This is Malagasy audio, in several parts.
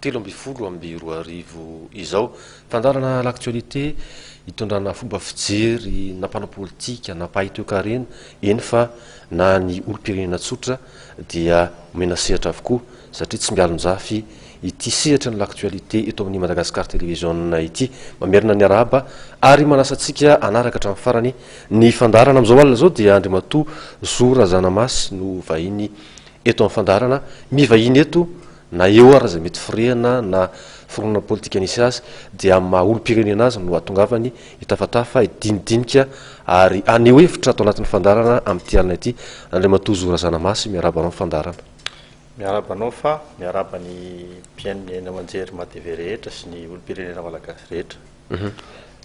telo ambin'ny folo amby roa arivo izao. Fandaharana L'actualité itondrana fomba fijery na mpanao politika na mpahay toekarena, eny fa na ny olom-pirenena tsotra dia omena sehatra avokoa satria tsy mialon-jafy ity sehatry ny L'actualité eto amin'ny Madagascar Television ity. Mamerina ny arahaba ary manasa antsika hanaraka hatramin'ny farany ny fandaharana. Amin'izao alina izao dia Andriamatoa Zo Razanamasy no vahiny eto amin'ny fandaharana. Mivahiny eto Na eo ary izay mety firehana na fironana politika nisy azy dia amin'ny maha olom-pirenena azy no atongavany hitafatafa, hidinidinika ary haneho hevitra ato anatin'ny fandaharana amin'ity alina ity. Andriamatoa Zo Razanamasy, miarahaba anao amin'ny fandaharana. Miarahaba anao fa miarahaba ny mpihaino ny haino aman-jery Mah TV rehetra sy ny olom-pirenena malagasy rehetra.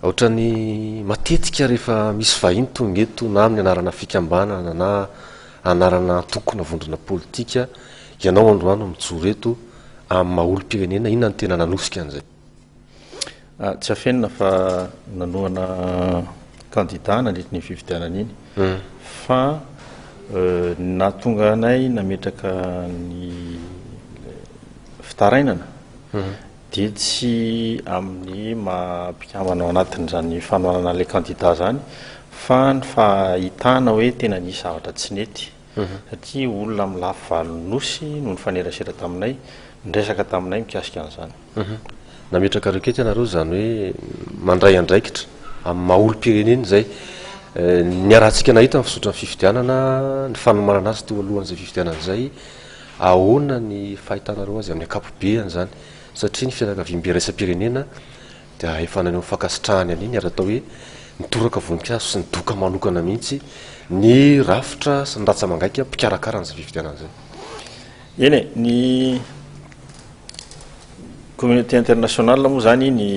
Ohatrany matetika rehefa misy vahiny tonga eto na amin'ny anarana fikambanana na anarana antoko na vondrona politika, ianao androany no mijoro eto amin'ny maha olom-pirenena, inona no tena nanosika an'izay? Tsy afenina fa nanohana kandida nandritry ny fifidianana iny fa ny nahatonga anay nametraka ny fitarainana dia tsy amin'ny maha mpikambana ao anatin'izany fanohanana an'ilay kandida izany fa ny fahitana hoe tena nisy zavatra tsy nety satria olona amin'ny lafy valon'ny Nosy no nifanerasera taminay, niresaka taminay mikasika an'izany. Nametraka requête ianareo izany hoe mandray andraikitra amin'ny maha olom-pirenena izay ny harahantsika nahita ny fizotran'ny fifidianana, ny fanomanana azy teo alohan'izay fifidianana izay, Ahoana ny fahitanareo azy amin'ny ankapobeany izany? Satria ny fianakaviam-be iraisam-pirenena dia efa naneho ny fankasitrahany an'iny ary atao hoe nitoraka voninkazo sy nidoka manokana mihitsy ny rafitra sy ny ratsa-mangaika mpikarakara an'izay fifidianana izay. Eny e, ny communauté internationale moa izany ny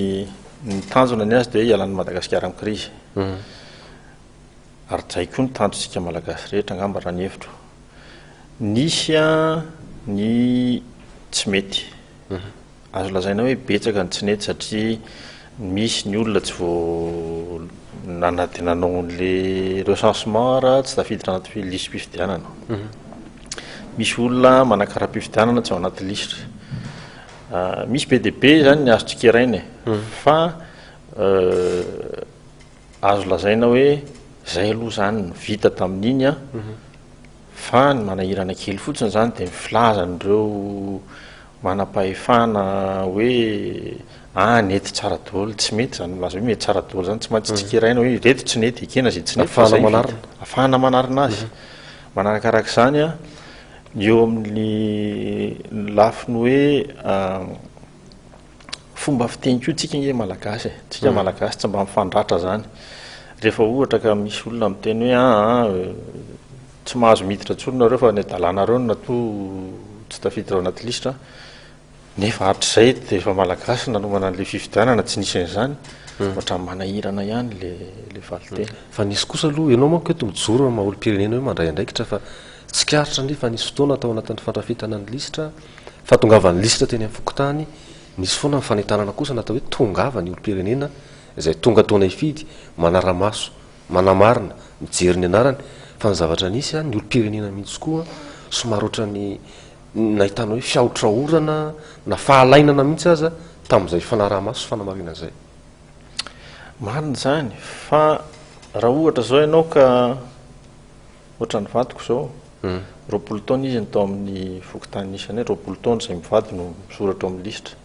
ny tanjona ny azy dia hialan'i Madagasikara amin'ny krizy. Ary zay koa ny tanjontsika Malagasy rehetra angamba raha ny hevitro. Nisy ny tsy mety. Azo lazaina hoe betsaka ny tsy nety satria misy ny olona tsy vo nana dia nanao an'le recensement raha tsy tafiditra anaty lisi-pifidianana. Misy olona manakaram-pifidianana tsy ao anaty lisitra. Misy be dia be izany ny azo tsikeraina e. Fa Azo lazaina hoe zay aloha zany ny vita tamin'iny an, fa ny manahirana kely fotsiny zany dia ny filazan'ireo manampahefana hoe ah nety tsara daholo, tsy mety zany milaza hoe mety tsara daholo zany, tsy maintsy tsikeraina hoe ireto tsy nety, ekena izay tsy nety fa zay vita, afahana manarina azy. Manarakarak'izany an, ny eo amin'ny lafiny hoe Fomba fiteny koa tsika nge malagasy e, tsika malagasy tsy mba mifandratra zany, rehefa ohatra ka misy olona miteny hoe aa tsy mahazo miditra tsony nareo fa any dalanareo no natoa tsy tafiditra ao anaty lisitra, nefa hatrizay de efa malagasy nanomana anle fifidianana tsy nisy anzany, ohatrany manahirana ihany le le valinteny. Fa nisy kosa aloha, enao manko eto mijoro amin'ny maha olompirenena hoe mandray andraikitra fa tsikaritra anie fa nisy fotoana tao anatin'ny fandrafetana ny lisitra, Fahatongavan'ny lisitra teny amin'ny fokontany, nisy foana ny fanentanana kosa natao hoe tongava ny olom-pirenena izay tonga toana hifidy, manara-maso, manamarina, mijery ny anarany, fa ny zavatra nisy, ny olom-pirenena mihitsy koa somary ohatran'ny nahitana hoe fiahotraorana na fahalainana mihitsy aza tamin'izay fanaraha-maso sy fanamarina izay. Marina izany, fa raha ohatra izao ianao ka. Ohatran'ny vadiko izao, roapolo taona izy no tao amin'ny fokontany isany hoe roapolo taona izay mivady no misoratra ao amin'ny lisitra.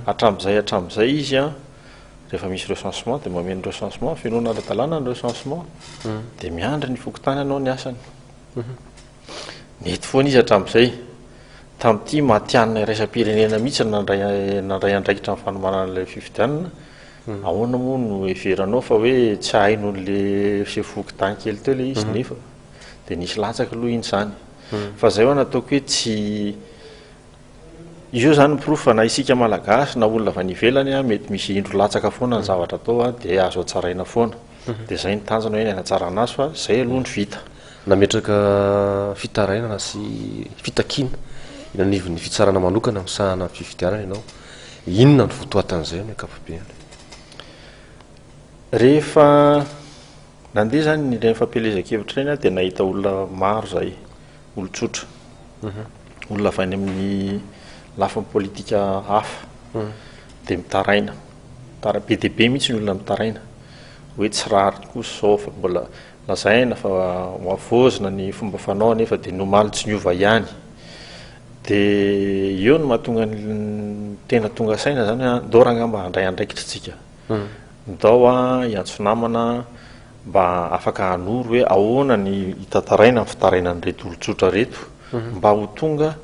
Hatramin'izay hatramin'izay izy an, rehefa misy recensement dia mameno recensement, fenoana ara-dalàna ny recensement, dia miandry ny fokontany hanao ny asany. Nety foana izy hatramin'izay. Tamin'ity matihanina iraisam-pirenena mihitsy no nandray nandray andraikitra ny fanomanana ilay fifidianana. Ahoana moa no heveranao fa hoe tsy hahaino an'le sefoky dahy kely teo le izy nefa de nisy latsaka aloha iny zany fa zay hoan ataoko hoe tsy io zany porofo fa na isika malagasy na olona avy any ivelany an mety misy indro latsaka foana ny zavatra atao an de azo hatsaraina foana de zay ny tanjona hoe ny hanatsarana azy fa zay aloha no vita. Nametraka fitarainana sy fitakiana eny anivon'ny fitsarana manokana misahana ny fifidianana ianao Inona no votoatin'izay amin'ny ankapobeny? Rehefa nandeha izany ireny fampielezan-kevitra ireny aho dia nahita olona maro izay, olon-tsotra, mhm. olona avy any amin'ny lafiny politika hafa, mhm. dia mitaraina, be dia be mihitsy ny olona mitaraina, hoe tsy rariny koa izao fa mbola lazaina fa ho avozina ny fomba fanao nefa dia nomaly tsy niova ihany. Dia eo no mahatonga ny tena tonga saina zany hoe ndao ranga mba handray andraikitra tsika. Ndao hiantso namana mba afaka hanoro hoe ahoana ny hitantaraina ny fitarainan'ireto olon-tsotra reto mba ho tonga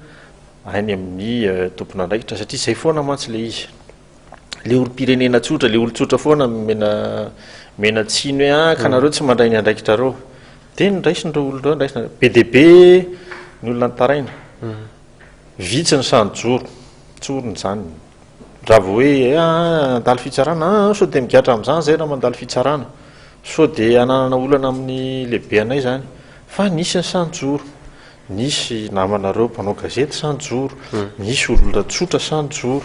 any amin'ny tompon'andraikitra satria zay foana mantsy le izy. le olom-pirenena tsotra, le olon-tsotra foana mena mena tsiny hoe ah ka nareo tsy mandray ny andraikitrareo. Dia niraisin'ireo olon'ireo andraisina. Be dia be ny olona nitaraina. Vitsy ny sahy nijoro, tsorina izany. Raha vao hoe eh, handalo fitsarana, ah sao dia migadra amin'izany izay raha mandalo fitsarana. Sao dia hananana olana amin'ny lehibe anay izany. Fa nisy ny sahy nijoro. Nisy namanareo mpanao gazety sa nijoro? Nisy olona tsotra sa nijoro?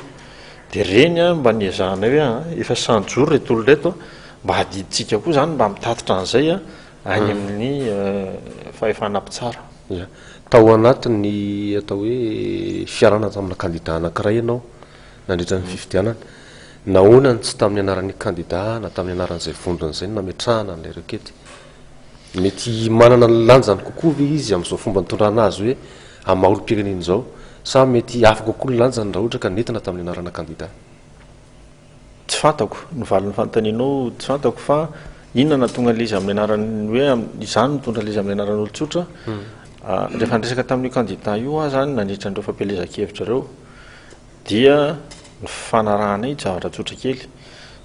Dia ireny mba niezahanay hoe an, efa sa nijoro ireto olona ireto? Mba adidintsika koa izany mba mitatitra an'izay any amin'ny fahefana mpitsara. Ia. Tao anatin'ny atao hoe fiarahana tamina kandida anankiray ianao nandritra ny fifidianana. Nahoana no tsy tamin'ny anaran'ny kandida na tamin'ny anaran'izay vondrona izay no nametrahana an'ilay rekety? Mety manana ny lanjany kokoa ve izy amin'izao fomba nitondrana azy hoe amin'ny maha olom-pirenena izao sa mety hafa kokoa ny lanjany raha ohatra ka nentina tamin'ny anarana kandida? Tsy fantako, ny valin'ny fanontanianao tsy fantako fa inona no nahatonga an'ilay izy amin'ny anaran'ny hoe izaho no nitondra ilay izy amin'ny anaran'olon-tsotra. Rehefa niresaka tamin'io kandida io aho izany nandritra an'ireo fampielezan-kevitra ireo, Dia ny fifanarahana iny, zavatra tsotra kely,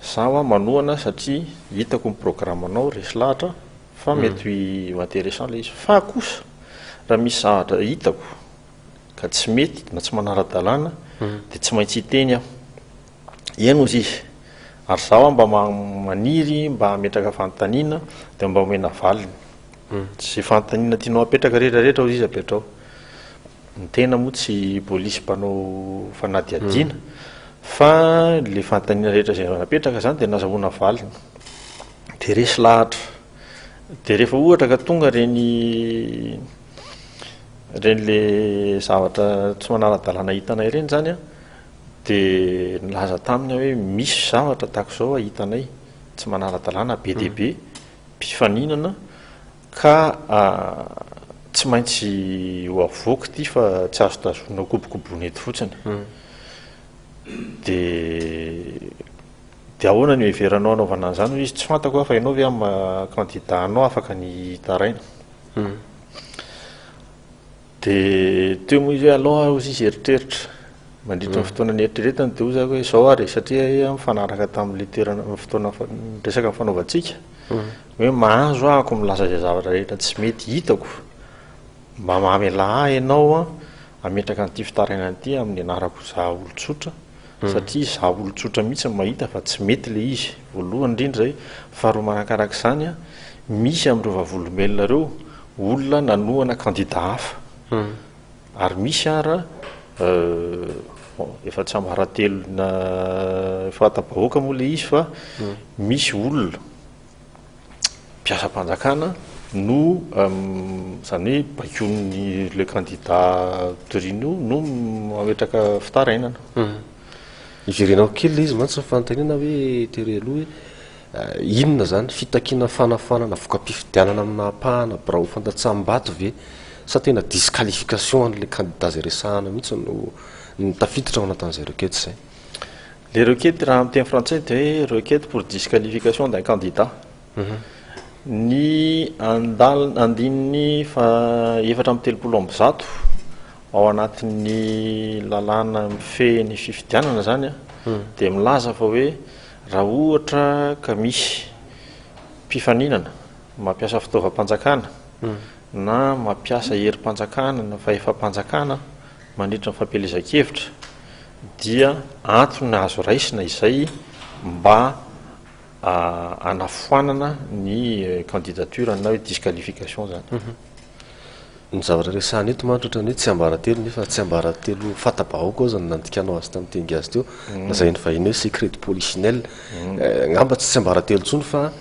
za hoa manohana satria hitako ny programanao, resy lahatra, fa mety ho intéressant ilay izy. Fa kosa raha misy zavatra hitako ka tsy mety na tsy manara-dalàna dia tsy maintsy hiteny aho. Eny hozy izy, ary za hoa mba maniry mba hametraka fanontaniana dia mba omena valiny. Izay fanontaniana tianao hapetraka rehetra rehetra hozy izy apetrao. Ny tena moa tsy polisy mpanao fanadihadiana fa le fanontaniana rehetra izay napetraka zany dia nazahoana valiny dia resy lahatra dia rehefa ohatra ka tonga reny reny le zavatra tsy manara-dalàna hitanay reny zany a dia nilaza taminy aho hoe misy zavatra tahaka izao a hitanay tsy manara-dalàna be dia be mpifaninana Ka tsy maintsy ho avoaka ity fa tsy azo tazomina ho kobokobona eto fotsiny. Dia dia ahoana no heveranao hanaovana an'izany hoy izy, tsy fantako aho fa ianao ve amin'ny maha candidat anao afaka ny hitaraina. Dia teo moa izy hoe allo a, hozy izy eritreritra. Mandritra ny fotoana nieritreretany dia hoy za hoe izao ary e, satria iha mifanaraka tamin'ilay toerana, fotoana resaka nifanaovantsika, hoe mahazo aho ko milaza izay zavatra rehetra tsy mety hitako, mba mamelà ahy ianao hametraka an'ity fitarainana ity amin'ny anarako izaho olon-tsotra, satria izaho olon-tsotra mihitsy no mahita fa tsy mety ilay izy, voalohany indrindra izay, faharoa manakarak'izany an, misy amin'ireo vavolombelona ireo olona nanohana kandida hafa, ary misy ara bon, efa tsy ambaratelona fahatapahoaka moa ilay izy fa misy olona. mpiasam-panjakana no izany hoe baikoin'ny le kandida Torino io no mametraka fitarainana. Iverenako kely ilay izy mantsy ny fanontaniana hoe tery aloha hoe eh, inona izany fitakiana fanafoanana voka-pifidianana amin'ny nahapahana birao fandatsaham-bato ve sa tena disqualification an'ilay kandida izay resahana mihitsy no no tafiditra ao anatin'izay requête izay. Ilay requête raha amin'ny teny frantsay dia hoe requête pour disqualification d'un candidat. Mhm. Ny andal- andininy faha efatra amby telopolo amby zato ao anatin'ny lalàna mifehy ny fifidianana izany an, mhm. dia milaza fa hoe raha ohatra ka misy mpifaninana mampiasa fitaovam-panjakana mhm. na mampiasa herim-panjakana na fahefam-panjakana mandritra ny fampielezan-kevitra dia antony azo raisina izay mba hanafoanana ny candidature na hoe disqualification zany. Ny zavatra resahana eto mantsy ohatran'ny hoe tsiambaratelo nefa tsiambaratelo fanta-bahoaka aza no nandikanao azy tamin'ny teny gasy teo, mm. lazain'ny vahiny hoe secret de polichinelle. Mm. Eh, angamba tsy tsiambaratelo intsony fa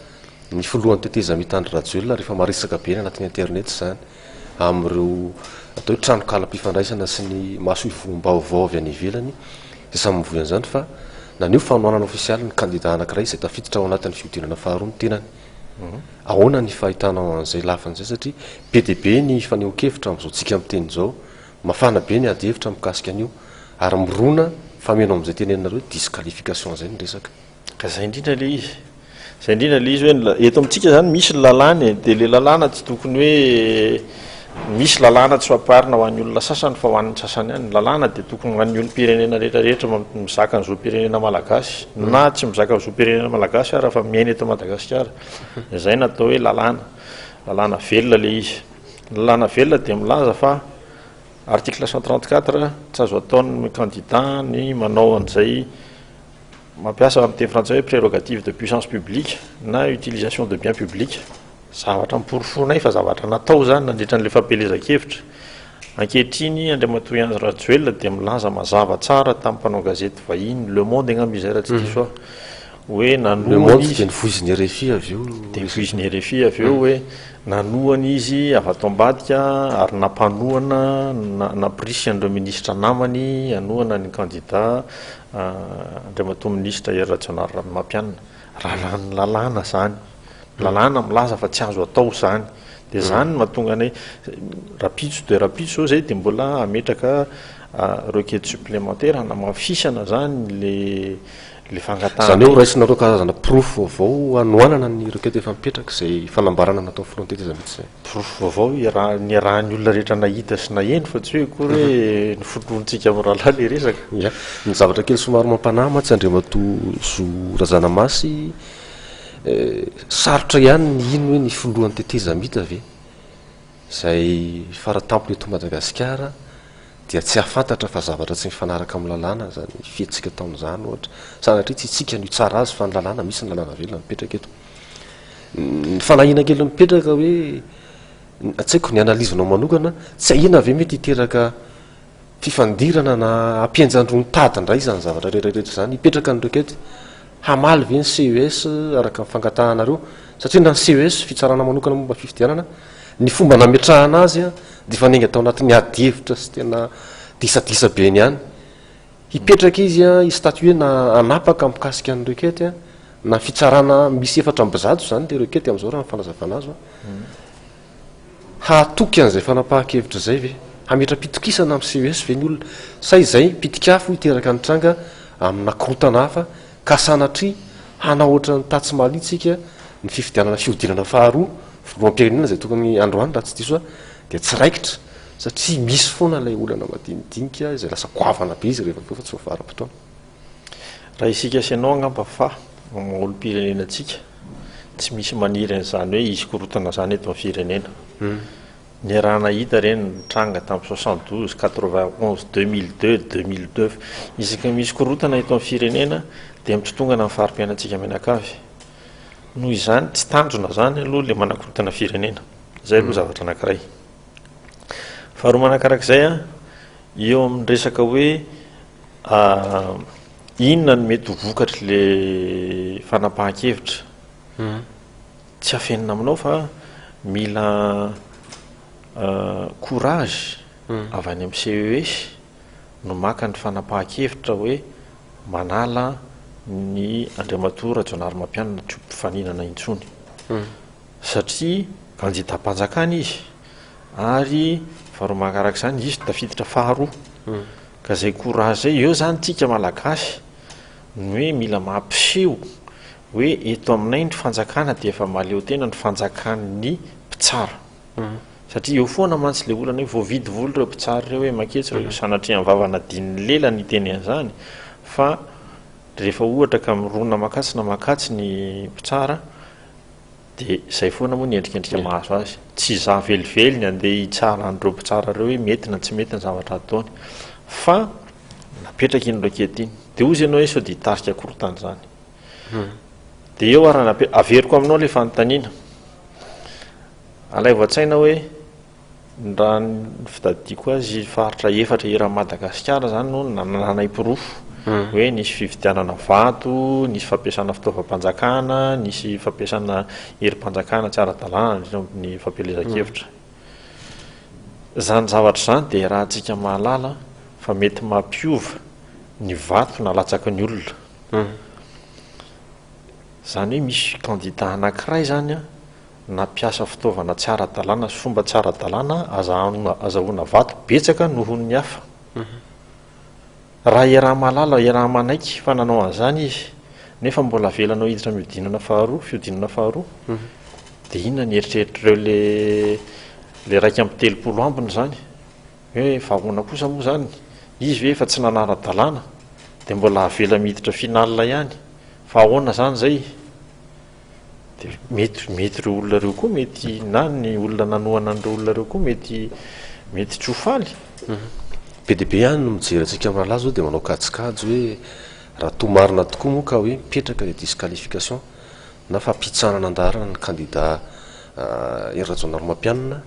ny filohan'ny tetezamita Andry Rajoelina rehefa maresaka be ny anatin'ny internet izany. amin'ireo atao hoe tranonkalam-pifandraisana sy ny masoivohom-baovao avy any ivelany izay samy mivoy an'izany fa naneho fanohanana ofisialy ny kandidà anankiray izay tafiditra ao anatin'ny fihodinana faharoa ny tenany. Ahoana ny fahitanao an'izay lafiny izay satria be dia be ny fanehoan-kevitra amin'izao tsika miteny izao, mafana be ny adihevitra mikasika an'io ary mirona fa mino amin'izay tenenina hoe disqualification izay ny resaka. Ka zay indrindra ilay izy. Zay indrindra ilay izy hoe ny eto amintsika zany misy ny lalàna e, dia ilay lalàna tsy tokony hoe misy lalàna tsy fampiharina ho an'ny olona sasany fa ho an'ny sasany ihany. Ny lalàna dia tokony ho an'ny olom-pirenena rehetra rehetra mizaka ny zom-pirenena malagasy na tsy mizaka ny zom-pirenena malagasy ara fa miaina eto Madagasikara. Dia zay no atao hoe lalàna. Lalàna velona ilay izy. Ny lalàna velona dia milaza fa article cent trente quatre tsy azo ataon'ny candidat ny manao an'izay Mampiasa amin'ny teny frantsay hoe prerogative de puissance publique na utilisation de biens publics. Zavatra noporofoinay fa zavatra natao izany nandritra an'ilay fampielezan-kevitra. Ankehitriny, Andriamatoa Henri Rajoelina dia milaza mazava tsara tamin'ny mpanao gazety vahiny, Le Monde angamba izay raha tsy diso aho, hoe nanohana izy. Dia nofoizin'ny rfi avy eo. Dia nofoizin'ny rfi avy eo hoe nanohana izy avy ato ambadika ary nampanohana, nampirisika an'ireo minisitra namany hanohana ny kandida. Andriamatoa Minisitra Hery Rajaonarirahamapianina, raha lany lalàna izany, ny lalàna milaza fa tsy azo atao izany, dia izany no mahatonga anay rahampitso dia rahampitso izao izay dia mbola hametraka requête supplémentaire hanamafisana izany ilay fangatahana. Izany hoe horaisinareo karazana porofo vaovao hanohanana ny requête efa mipetraka izay fanambarana natao frontier taiza mihitsy izay? Porofo vaovao iaraha, niarahan'ny olona rehetra nahita sy naheno fa tsy hoe akory hoe noforonintsika amin'ny rahalahy ilay resaka. Ya. Ny zavatra kely somary mampanahy mantsy Andriamatoa Zo Razanamasy, sarotra ihany ny hino hoe ny filohan'ny tetezamita ve izay faratampony eto Madagasikara dia tsy hahafantatra fa zavatra tsy mifanaraka amin'ny lalàna izany fihetsika ataony izany ohatra, sanatria tsy isika no hitsara azy fa ny lalàna, misy ny lalàna velona mipetraka eto. Ny fanahiana kely mipetraka hoe tsy haiko ny analyse-nao manokana, tsy ahiana ve mety hiteraka fifandirana na hampihenjan-droa ny tady indray izany zavatra rehetrarehetra izany? Hipetraka ny requête hamaly ve ny CES araka ny fangatahanareo? Satria na ny CES, Fitsarana Manokana Momba ny Fifidianana, ny fomba nametrahana azy dia efa niainga tao anatin'ny adihevitra sy tena disadisa be ihany. Hipetraka izy i statue na hanapaka mikasika ny requete na fitsarana misy efatra amby zato izany le requete amizao raha ny fanazavana azo hahatoky an'izay fanapahan-kevitra izay ve? Hametra-pitokisana amin'ny ces ve ny olona? Sa izay pitik'afo hiteraka ny tranga amina korotana hafa ka sanatria hanao ohatran'ny tatsy Mali tsika ny fifidianana fihodinana faharoa filoham-pirenena izay tokony androany raha tsy diso aho dia tsy raikitra satria misy foana ilay olana madinidinika izay lasa goavana be izy rehefa fa tsy voavaram-potoana. Raha isika sy ianao angamba fa amin'ny olom-pirenena antsika tsy misy maniry an'izany hoe hisy korontana izany eto amin'ny firenena. Hmm. Niarahana hita ireny nitranga tamin'ny soixante douze, quatre vingt onze, deux mille deux, deux mille neuf. Isaka misy korontana eto amin'ny firenena dia mitotongana ny fari-piainantsika mianakavy. Noho izany tsy tanjona izany aloha ilay manakorontana firenena. Izay aloha hmm. zavatra anankiray. Faharoa manakarak'izay a, eo amin'ny resaka hoe inona no mety ho vokatry le fanapahan-kevitra. Tsy afenina aminao fa mila courage avy any amin'ny CES no maka ny fanapahan-kevitra hoe manala ny Andriamatoa Rajaonarimampianina tsy ho mpifaninana intsony. Satria banditam-panjakana izy, ary faharoa manaraka izany izy tafiditra faharoa, ka izay courage izay, eo izany tsika Malagasy no hoe mila mampiseho hoe eto aminay ny fanjakana dia efa mahaleo tena ny fanjakan'ny mpitsara, satria eo foana mantsy ilay olana hoe voavidy vola ireo mpitsara ireo hoe maketsy ireo, sanatria ny vavany adinon'ny lela ny hiteny an'izany, fa rehefa ohatra ka mirona makasy na mak'atsy ny mpitsara, Dia izay foana moa ny endrikendrika mahazo azy. Tsy izaho velively ny andeha hitsara an'ireo mpitsara ireo hoe mety na tsy mety ny zavatra ataony. Fa napetraka iny roquette iny. Dia hozy ianao hoe sao dia hitarika korontana izany. Hmm. Dia eo ary averiko aminao ilay fanontaniana. Alaivo an-tsaina hoe Raha ny fitadidiako azy, faritra efatra eran'i Madagasikara izany no nanananay porofo hoe nisy fividianana vato, nisy fampiasana fitaovam-panjakana, nisy fampiasana herim-panjakana tsy ara-dalàna nandritra ny ny fampielezan-kevitra. Izany zavatra izany dia arahantsika mahalala fa mety mampiova ny vato nalatsaky ny olona. Izany hoe misy kandida anankiray izany an, nampiasa fitaovana tsy ara-dalàna sy fomba tsy ara-dalàna azahoana vato betsaka noho ny hafa. Raha iaraha-mahalala, iaraha-manaiky fa nanao an'izany izy, nefa mbola avelanao hiditra mihodinana faharoa, fihodinana faharoa, dia inona ny eritreritr'ireo ilay iraika amby telopolo ambiny izany? Hoe vahoana kosa moa izany? Izy ve efa tsy nanara-dalàna, dia mbola avela miditra finale ihany? Fa ahoana izany izay? Dia mety, mety ireo olona ireo koa mety, na ny olona nanohana an'ireo olona ireo koa mety, mety tsy ho faly. Be dia be ihany no mijery antsika amin'ny rahalahy izao dia manao kajikajy hoe raha toa marina tokoa moa ka hoe mipetraka ilay disqualification na fampihitsanana an-daharana ny kandida Hery Rajaonarimampianina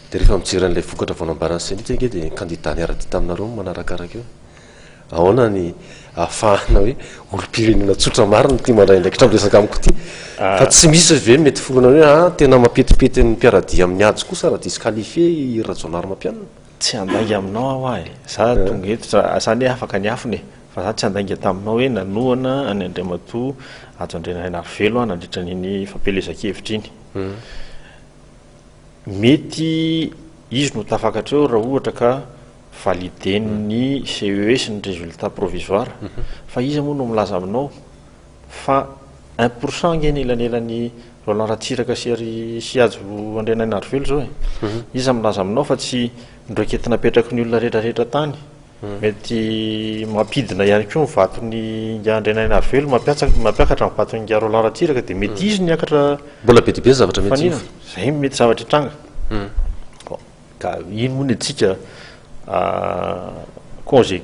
dia rehefa mijery an'ilay vokatra vao nambaran'ny CENI teto ange dia ny kandida niara-dia taminareo no manarakaraka eo. Ahoana ny ahafahana hoe olom-pirenena tsotra marina ity mandray andraikitra amin'ny resaka amiko ity? Fa tsy misy ve mety foronana hoe ah, tena mampetipety ny mpiara-dia amin'ny Hajo kosa raha disqualifier i Hery Rajaonarimampianina? Tsy handainga aminao aho ah e! Za tonga eto, za za anie afaka niafina e! Fa za tsy handainga taminao hoe nanohana an'i Andriamatoa Hajo Andrianainarivelo aho nandritra an'iny fampielezan-kevitra iny. Mety izy no tafakatra eo raha ohatra ka validen'ny CES ny résultat provisoire. Fa iza moa no milaza aminao fa un pour cent ange ny elanelan'i Roland Ratsiraka sy ry sy Hajo Andrianainarivelo izao e. Iza milaza aminao fa tsy ndroiketina apetraky ny olona retraretra tany Mety mampidina ihany koa ny vaton'i Ingahy Andrianainarivelo, mampiakatra ny vaton'i Ingahy Roland Ratsiraka dia mety izy no hiakatra fanina. Izay no mety zavatra hitranga. Ka iny moa ny antsika congé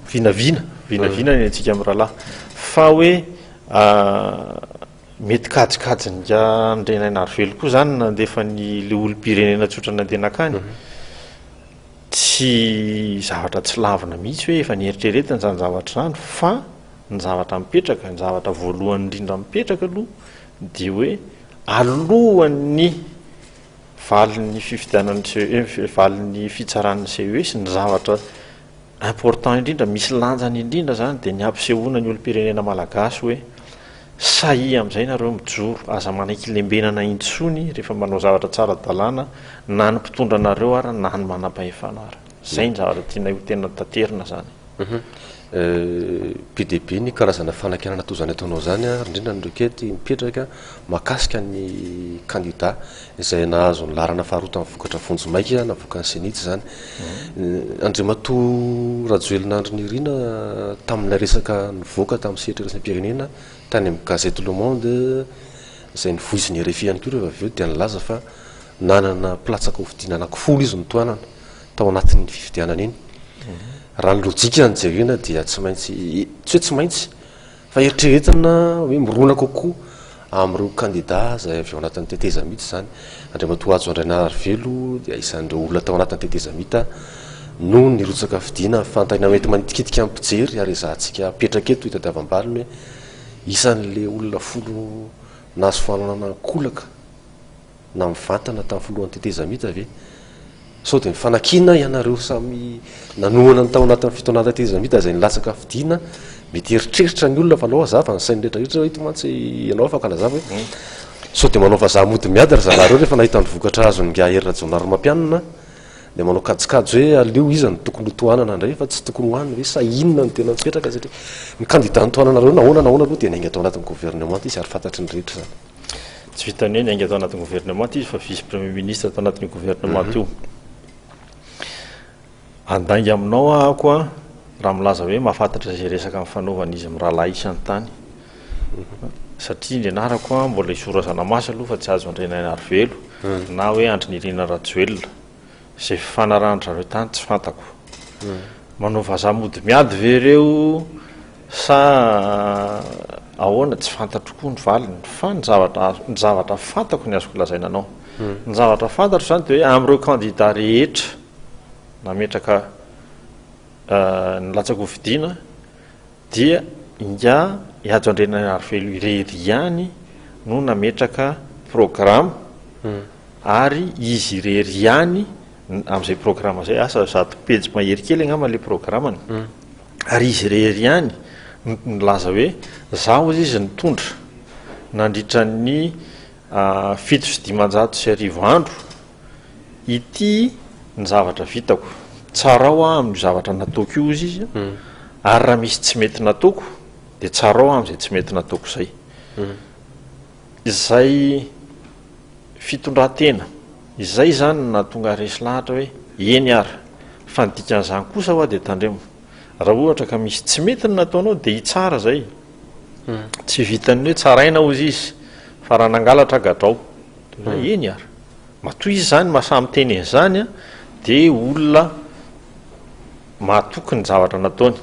vinavina, vinavina ny antsika mirahalahy. Fa hoe mety kajikajin'Ingahy Andrianainarivelo koa izany ny nandefa an'ilay olom-pirenena tsotra nandeha nankany. Tsy zavatra tsy lavina mihitsy hoe efa nieritreretina izany zavatra izany fa ny zavatra mipetraka, ny zavatra voalohany indrindra mipetraka aloha dia hoe alohan'ny valin'ny fifidianan'ny CES, valin'ny fitsaran'ny CES, ny zavatra important indrindra, misy lanjany indrindra izany dia ny hampisehoana ny olom-pirenena malagasy hoe. Sahia amin'izay nareo mijoro, aza manaiky lembenana intsony rehefa manao zavatra tsara dalàna na ny mpitondra anareo ara na ny manampahefana ara. Zay ny zavatra tianay ho tena taterina zany. Be dia be ny karazana fanakianana toa izany ataonao izany ary indrindra ny requête mipetraka mahakasika ny kandida. izay nahazo ny laharana faharoa tamin'ny vokatra vonjimaika navoakan'ny CENI-T izany. Andriamatoa Rajoelina Andry Nirina tamin'ilay resaka nivoaka tamin'ny sehatra iraisam-pirenena tany amin'ny gazety Le Monde izay nivoizin'ny rfi ihany koa rehefa avy eo dia nilaza fa nanana mpilatsaka hofidiana anankifolo izy notohanana tao anatin'iny fifidianana iny. Raha ny lojika no jerena dia tsy maintsy, tsy hoe tsy maintsy, Fa eritreretina hoe mirona kokoa amin'ireo kandidà izay avy ao anatin'ny tetezamita izany. Andriamatoa Hajo Andrainaharivelo dia isan'ireo olona tao anatin'ny tetezamita no nirotsaka fidina. Fantany amin'ny enti-manitikitika amin'ny mpijery ary ezahantsika apetraka eto hitadiavam-baliny hoe isan'ilay olona folo nahazo fananana ankolaka. na mivantana tamin'ny filohan'ny tetezamita ve? Sao dia mifanakiana ianareo samy nanohana ny tao anatin'ny fitonan'ny tetezamita izay nilatsaka fidiana? Mety hieritreritra ny olona fa anao hazava ny sain'ny rehetra rehetra ito mantsy ianao afaka anazava hoe hmm. sao dia manao vazaha mody miady ry zalahy ireo rehefa nahita ny vokatra azon'ny gaha Hery Rajaonarimampianina dia manao kajikajy hoe aleo iza no tokony ho tohanana indray fa tsy tokony ho any hoe sa inona no tena mipetraka satria ny kandida ny tohananareo nahoana nahoana aloha dia nainga tao anatin'ny governemanta izy ary fantatry ny rehetra izany. Tsy vitan'ny hoe niainga tao anatin'ny governemanta izy fa vice premier ministre tao anatin'io governemanta io. Handainga aminao ahako a, raha milaza hoe mahafantatra izay resaka mifanaovan'izy mirahalahy isy any tany. Satria ny anarako a, mbola i Zora Zanamasy aloha fa tsy Hajo Andrianainarivelo, na hoe Andry Nirina Rajoelina. Izay fifanarahan-dry zareo tany tsy fantako. Manao vazaha mody miady ve ireo sa ahoana tsy fantatro koa ny valiny fa ny zavatra ny zavatra fantako ny azoko lazaina anao. Ny zavatra fantatro izany dia hoe amin'ireo kandidà rehetra nametraka ny latsa-kofidiana Dia ingahy Hajo Andrianarivelo irery ihany no nametraka programa ary izy irery ihany amin'izay programa izay, asa zato pejy mahery kely angamba ilay programany, ary izy irery ihany no nilaza hoe izaho hozy izy nitondra nandritra ny fito sy dimanjato sy arivo andro. Ity ny zavatra vitako, tsarao aho amin'io zavatra nataoko io, hozy izy, ary raha misy tsy mety nataoko dia tsarao aho amin'izay tsy mety nataoko izay. Izay fitondran-tena izay izany no nahatonga resy lahatra hoe eny ary. Fa ny dikan'izany kosa ho'a dia tandremo, raha ohatra ka misy tsy mety ny nataonao dia hitsara izay. Tsy vitan'ny hoe tsaraina hozy izy, fa raha nangalatra gadrao. Na eny ary. Matoa izy izany maha samy miteny an'izany dia olona mahatoky ny zavatra nataony.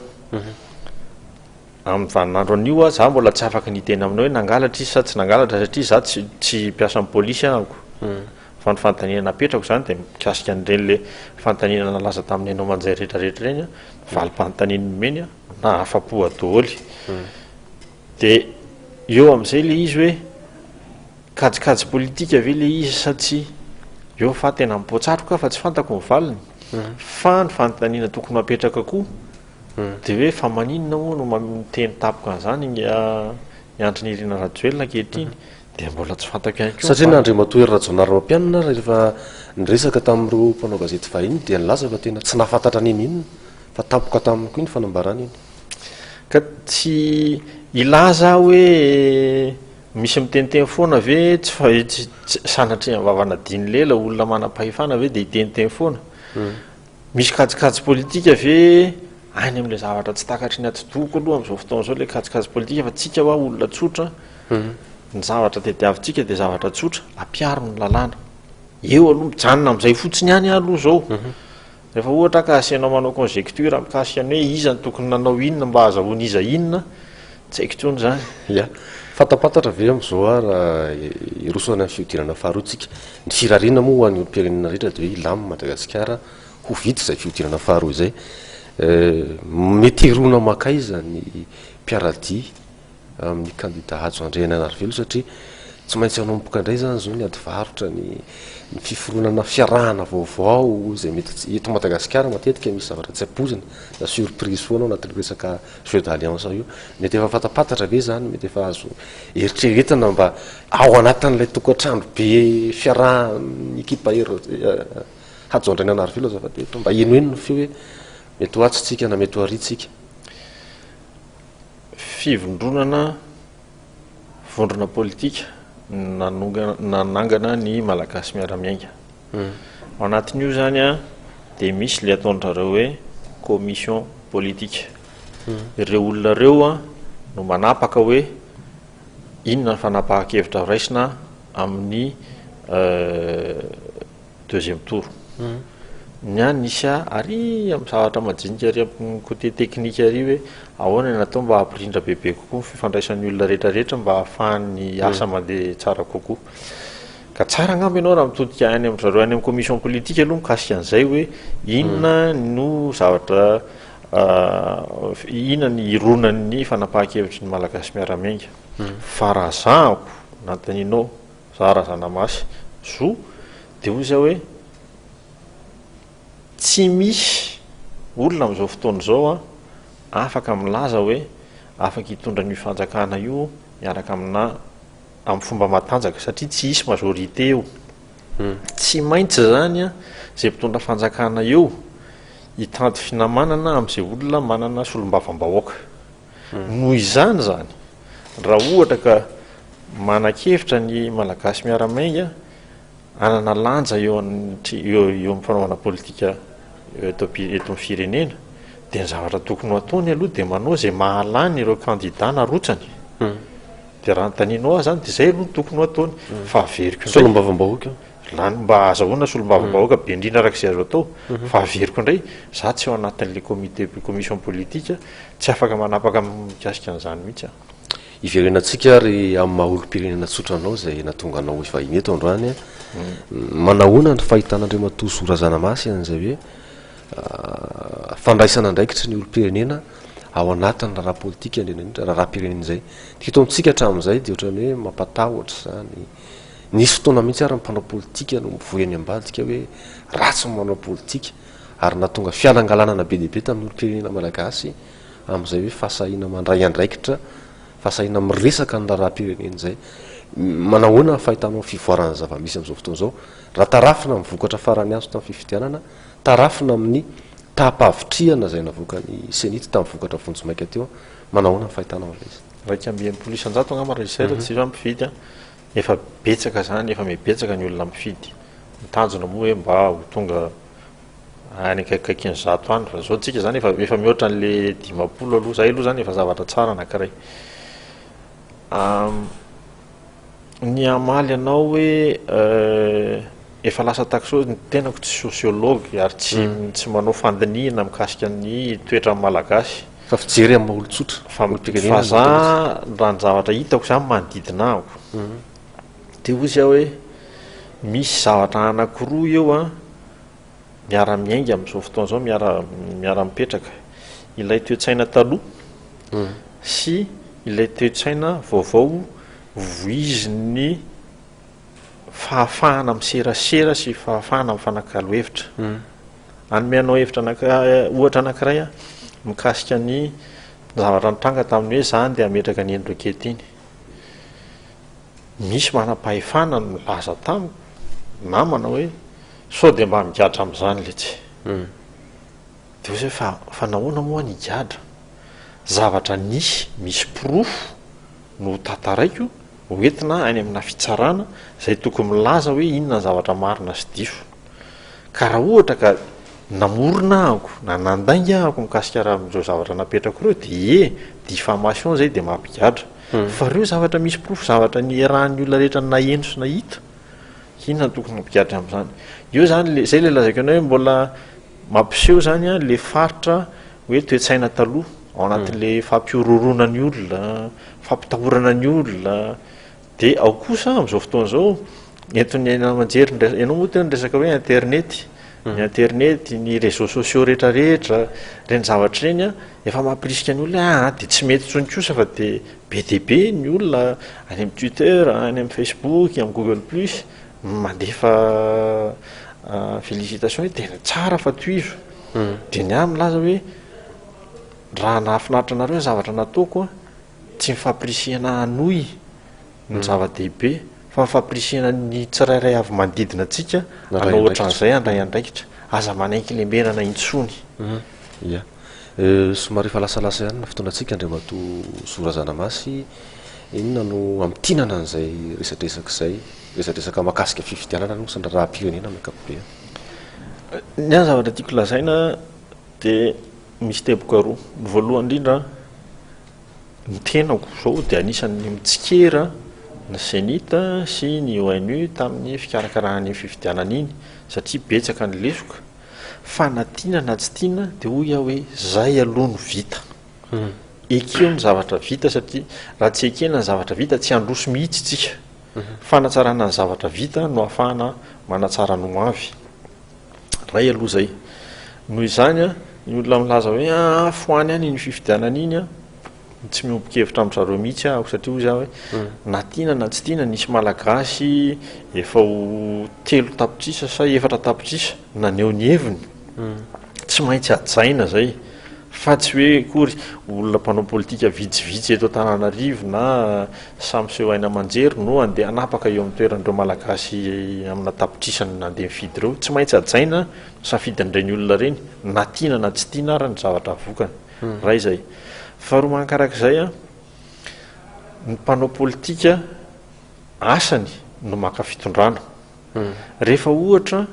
Amin'ny vaninandro anio aho, izaho mbola tsy afaka ny hiteny aminao hoe nangalatra izy sa tsy nangalatra satria izaho tsy tsy mpiasan'ny polisy ahako. Fa ny fanontaniana napetrako izany dia mikasika an'ireny ilay fanontaniana nalaza tamin'ny haino aman-jay rehetra rehetra ireny, valim-panontaniana omeny na afa-po daholo. Dia eo amin'izay ilay izy hoe kajikajy politika ve ilay izy sa tsia? Eo fa tena mipoa-tsatroka aho fa tsy fantako ny valiny. Hmm. Fa ny fanontaniana tokony ho apetraka koa hmm. dia hoe fa maninona moa no miteny tapoka an'izany ny ah, Andry Nirina Rajoelina ankehitriny? Hmm. Dia mbola tsy fantako ihany koa. Satria na Andriamatoa Hery Rajaonarimampianina rehefa niresaka tamin'ireo mpanao gazety vahiny dia nilaza fa tena tsy nahafantatra n'inon'inona fa tapoka taminy koa iny fanambarana iny. Ka tsy hilaza aho hoe misy miteniteny foana ve tsy fa sanatria ny vavana diny lela olona manam-pahefana ve dia hiteniteny foana? Hmm. Misy kajikajy politika ve any amin'ilay zavatra tsy takatry ny atidohako aloha amin'izao fotoana izao ilay kajikajy politika fa tsika hoa olona tsotra hmm. ny zavatra tediavintsika dia zavatra tsotra ampiaro ny lalàna eo aloha mijanona amin'izay fotsiny ihany aloha izao hmm. Rehefa ohatra ka asianao manao conjecture mikasika ny hoe iza no tokony nanao inona mba hahazahoan'iza inona, tsy haiko intsony izany. Ya. Fantapantatra ve amin'i Zohar hiroso any amin'ny fihodinana faharoa tsika? Ny firariana moa ho an'ny olom-pirenena rehetra dia hoe hilamin'i Madagasikara ho vita izay fihodinana faharoa izay. Mety hiroana makaiza ny mpiaradia? amin'ny kandida Hajo Andrianarivelo satria tsy maintsy hanomboka indray izany izao ny ady varotra, ny ny fiforonana fiarahana vaovao izay mety tsy, eto Madagasikara matetika misy zavatra tsy ampoizina na surprise foana ao anatin'io resaka jeu d'alliance io. Mety efa fantapantatra ve izany, mety efa azo eritreretina mba ao anatin'ilay tokantrano be fiarahan'ny ekipa Hajo Andrianarivelo azafady eto mba henoheno ny feo hoe mety ho atsy tsika na mety ho ary tsika. fivondronana vondrona politika nanangana ny Malagasy miara-miainga. Ao anatin'io izany an, dia misy ilay ataondrareo hoe commission politique. Ireo olona ireo an, no manapaka hoe inona ny fanapahan-kevitra raisina amin'ny Deuxième tour. Ny ahy nisy ahy ary amin'ny zavatra majinika ary amin'ny côté technique ary hoe ahoana no atao mba hampirindra bebe kokoa ny fifandraisan'ny olona rehetra rehetra mba hahafahan'ny asa mandeha tsara kokoa. Ka tsara angamba ianao raha mitodika any amin-dry zareo any amin'ny commission politique aloha mikasika an'izay hoe inona no zavatra inona ny ironan'ny fanapahan-kevitry ny Malagasy miara-miainga. Fa raha zahako, nanontanianao, Raha razana mafy zo dia hoy zay hoe tsy misy olona amin'izao fotoana izao an afaka milaza hoe afaka hitondra an'io fanjakana io miaraka aminà amin'ny fomba matanjaka satria tsy hisy majorité eo. Tsy maintsy izany an izay mpitondra fanjakana eo hitady finamanana amin'izay olona manana solombavambahoaka. Noho izany izany, raha ohatra ka manan-kevitra ny Malagasy miara-miainga hanana lanja eo amin'ny fanaovana politika eto amin'ny firenena, dia ny zavatra tokony ho ataony aloha dia manao izay mahalany ireo kandida narotsany. Hmm. Dia raha notanianao ahy izany dia izay aloha no tokony ho ataony. Hmm. Fa averiko indray. Solombavambahoaka. Lany mba azahoana solombavambahoaka be indrindra araka izay azo atao. Hmm. Fa averiko indray, za tsy ao anatin'ilay comité commission politique Tsy afaka manapaka mikasika an'izany mihitsy aho. Hiverenantsika ary amin'ny maha olom-pirenena tsotra anao izay nahatonga anao hivahiny eto androany. Manahoana ny fahitan'Andriamatoa Zo Razanamasy an'izay hoe fandraisana andraikitry ny olom-pirenena ao anatin'ny raharaha politika indrindra indrindra raharaham-pirenena izay? Ny fito amintsika hatramin'izay dia ohatran'ny hoe mampatahotra izany. Nisy fotoana mihitsy ary ny mpanao politika no mivoy any ambadika hoe ratsy ny manao politika. ary nahatonga fialangalanana be dia be tamin'ny olom-pirenena malagasy amin'izay hoe fahasahiana mandray andraikitra, fahasahiana miresaka ny raharaham-pirenena izay. Manahoana ny fahitanao ny fivoaran'ny zava-misy amin'izao fotoana izao raha tarafina amin'ny vokatra farany azo tamin'ny fifidianana, tarafina amin'ny taha-pahavitrihana izay navoakan'ny Cenit tamin'ny vokatra vonjimaika teo, manahoana ny fahitanao an'ilay izy? Iraika amby enimpolo isan-jato angamba raha izay raha tsy hifa-mifidy an! Efa betsaka zany efa mibetsaka ny olona mifidy, ny tanjona moa hoe mba ho tonga any akaikikaikin'ny zato any fa zao tsika zany efa efa mihoatra an'le dimampolo aloha, zay aloha zany efa zavatra tsara anakiray. Ny hamaly anao hoe efa lasa taxo, ny tenako tsy sociologue ary tsy tsy manao fandinihina mikasika ny toetran'ny malagasy, Fa fijery amin'ny maha olon-tsotra, olom-pirenena. Fa za raha ny zavatra hitako zany manodidina ahy dia hoy izy aho hoe misy zavatra anankiroa eo an, miara-miainga amin'izao fotoana izao, miara- miara-mipetraka. Ilay toe-tsaina taloha sy ilay toe-tsaina vaovao voizin'ny fahafahana miserasera sy fahafahana mifanakalo hevitra. Hmm. Hanome anao hevitra eh, ohatra anankiray aho mikasika ny zavatra nitranga tamin'ny hoe zany dia hametraka ny eny rokety iny. Misy manam-pahefana no milaza tamiko namana hoe sao dia mba migadra amin'izany letsy. Hmm. Dia hoe fa fa nahoana moa ny higadra? Zavatra nisy, misy porofo no tantaraiko ho entina any amina fitsarana izay tokony milaza hoe inona ny zavatra marina sy diso. Ka raha ohatra ka namorona ahako na nandainga ahako mikasika raha amin'ireo zavatra napetrako ireo dia ie, diffamation izay dia mampigadra. Hmm. Fa ireo zavatra misy porofo zavatra nierahan'ny olona rehetra naheno sy nahita, inona no tokony hampigadra amin'izany? Eo izany, izay ilay lazaiko anao hoe mbola Mampiseho izany ilay faritra hoe toe-tsaina taloha, ao anatin'ilay fampihorohoroana ny olona, fampitahorana ny olona. Dia ao kosa amin'izao fotoana izao, entin'ny haino aman-jery, ianao moa teo niresaka hoe internety, ny internety, ny réseaux sociaux rehetrarehetra, ireny zavatra ireny efa mampirisika ny olona hoe aa dia tsy mety intsony kosa fa dia be dia be ny olona any amin'ny Twitter, any amin'ny Facebook, amin'ny Google Plus, Mandefa félicitations hoe tena tsara fa tohizo. Dia ny ahy milaza hoe raha nahafinaritra anareo ny zavatra nataoko an, tsy ny fampirisihana hanohy no zava-dehibe fa ny fampirisihana ny tsirairay avy manodidina antsika hanao ohatran'izay handray andraikitra. Aza manenky lembenana intsony. Somary efa lasalasa ihany ny fotoanantsika Andriamatoa Zo Razanamasy, inona no hamintinana an'izay resadresaka izay, resadresaka mahakasika fifidianana aloha sy ny raharaham-pirenena amin'ny ankapobeny? Ny ahy zavatra tiako lazaina dia misy teboka roa. Ny voalohany indrindra, ny tenako izao dia anisan'ny mitsikera ny CENI-T sy ny ONU tamin'ny fikarakarana an'iny fifidianana iny satria betsaka ny lesoka Fa na tiana na tsy tiana dia hoy aho hoe izay aloha no vita. Ekeo ny zavatra vita satria raha tsy ekena ny zavatra vita tsy handroso mihitsy isika. Fanatsarana ny zavatra vita no ahafahana manatsara ny ho avy. Iray aloha izay. Noho izany, ny olona milaza hoe afo any any iny fifidianana iny, Tsy miombon-kevitra amin-dry zareo mihitsy aho satria hoy za hoe na tiana na tsy tiana nisy Malagasy efa ho telo tapitrisa sa efatra tapitrisa naneho ny heviny. Tsy maintsy hajaina izay fa tsy hoe akory olona mpanao politika vitsivitsy eto Antananarivo na sahy miseho haino aman-jery no handeha hanapaka eo amin'ny toeran'ireo Malagasy amina tapitrisany nandeha nifidy ireo. Tsy maintsy hajaina ny safidin'ireny olona ireny na tiana na tsy tiana ary ny zavatra avokany. Iray izay. Faharoa mankarak'izay, ny mpanao politika asany no maka fitondrana. Rehefa ohatra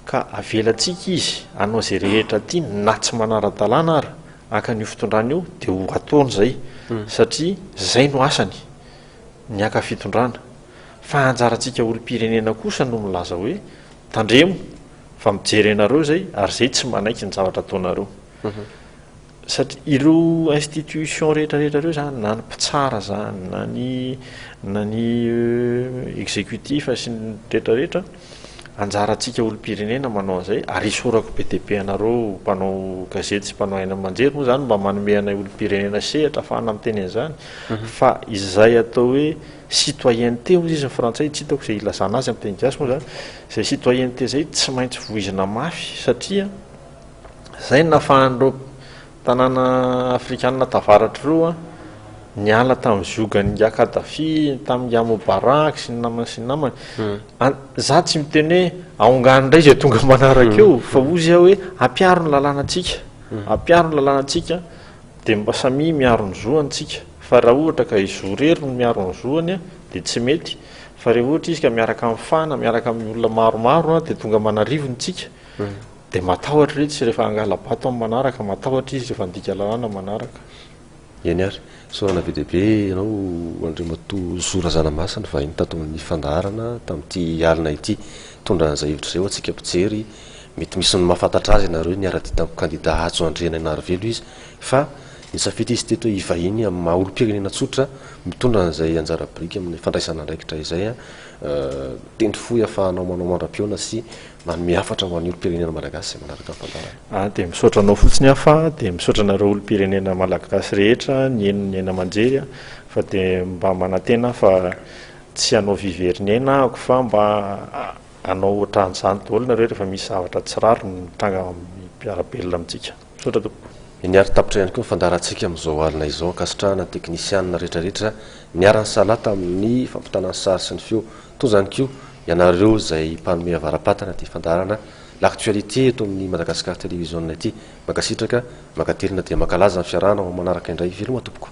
ka avelantsika izy hanao izay rehetra tiany na tsy manara-dalàna ara haka an'io fitondrana io dia ho ataony izay satria izay no asany ny haka fitondrana. Fa anjarantsika olom-pirenena kosa no milaza hoe tandremo fa mijery anareo izay ary izay tsy manaiky ny zavatra ataonareo. Satria ireo institutions rehetra rehetra ireo izany, na ny mpitsara izany, na ny na ny executif sy ny rehetra rehetra, anjarantsika olom-pirenena manao an'izay, ary esorako be dia be anareo mpanao gazety sy mpanao haino aman-jery moa izany mba manome anay olom-pirenena sehatra ahafahana miteny an'izany, fa izay atao hoe citoyenneté hozy izy ny frantsay, tsy hitako izay ilazana azy amin'ny teny gasy moa izany, izay citoyenneté izay tsy maintsy voizina mafy satria, Izay no nahafahan'ireo tanàna afrikana tavaratro roa niala tamin'ny ziogan'ny nga Kadhafi, tamin'ny nga Mubarak sy ny namany sy ny namany. Hmm. Za tsy miteny hoe aongano indray izay tonga manaraka eo, hmm. fa ozy aho hoe ampiaro ny lalànantsika, hmm. ampiaro ny lalànantsika, dia mba samia miaro ny zoantsika. Fa raha ohatra ka izy roa rery no miaro ny zoany, dia tsy mety. Fa rehefa ohatra izy ka miaraka amin'ny fana, miaraka amin'ny olona maromaro, dia tonga manarivo ny tsika. Dia matahotra re tsy rehefa hangala-bato amin'ny manaraka, matahotra izy rehefa handika lalàna ny manaraka. Eny ary, isaorana be dia be ianao Andriamatoa Zo Razanamasina vahiny tato amin'ny fandaharana tamin'ity alina ity. Hitondra an'izay hevitra izay ho antsika mpijery, mety misy ny mahafantatra azy ianareo, niara-dia tamin'ny kandida Hajo Andrianainarivelo izy fa nisafidy izy teto hoe hivahiny amin'ny maha olom-pirenena tsotra mitondra an'izay anjara biriky amin'ny fandraisana andraikitra izay. Tendry fo hiafahanao manao mandra-pihaona sy Manome hafatra ho an'ny olom-pirenena malagasy izay manaraka ny fandaharana. Aho dia misaotra anao fotsiny aho fa dia misaotra anareo olom-pirenena malagasy rehetra nihaino ny haino aman-jery aho fa dia mba manantena aho fa tsy hanao vy very ny aina ahako fa mba hanao ohatran'izany daholo nareo rehefa misy zavatra tsy rariny mitranga mpiara-belona amintsika. Misaotra tompoko. Niary tapitra ihany koa ny fandaharantsika amin'izao alina izao. Ankasitrahana ny teknisianina rehetra rehetra niara-nisalahy tamin'ny fampitana ny sary sy ny feo Toa izany koa, ianareo izay mpanome avara-patana dia fandaharana l'actualité eto amin'ny Madagascar Television ity. Mankasitraka, mankatelina dia mankalaza ny fiarahana ho manaraka indray. Veloma tompoko.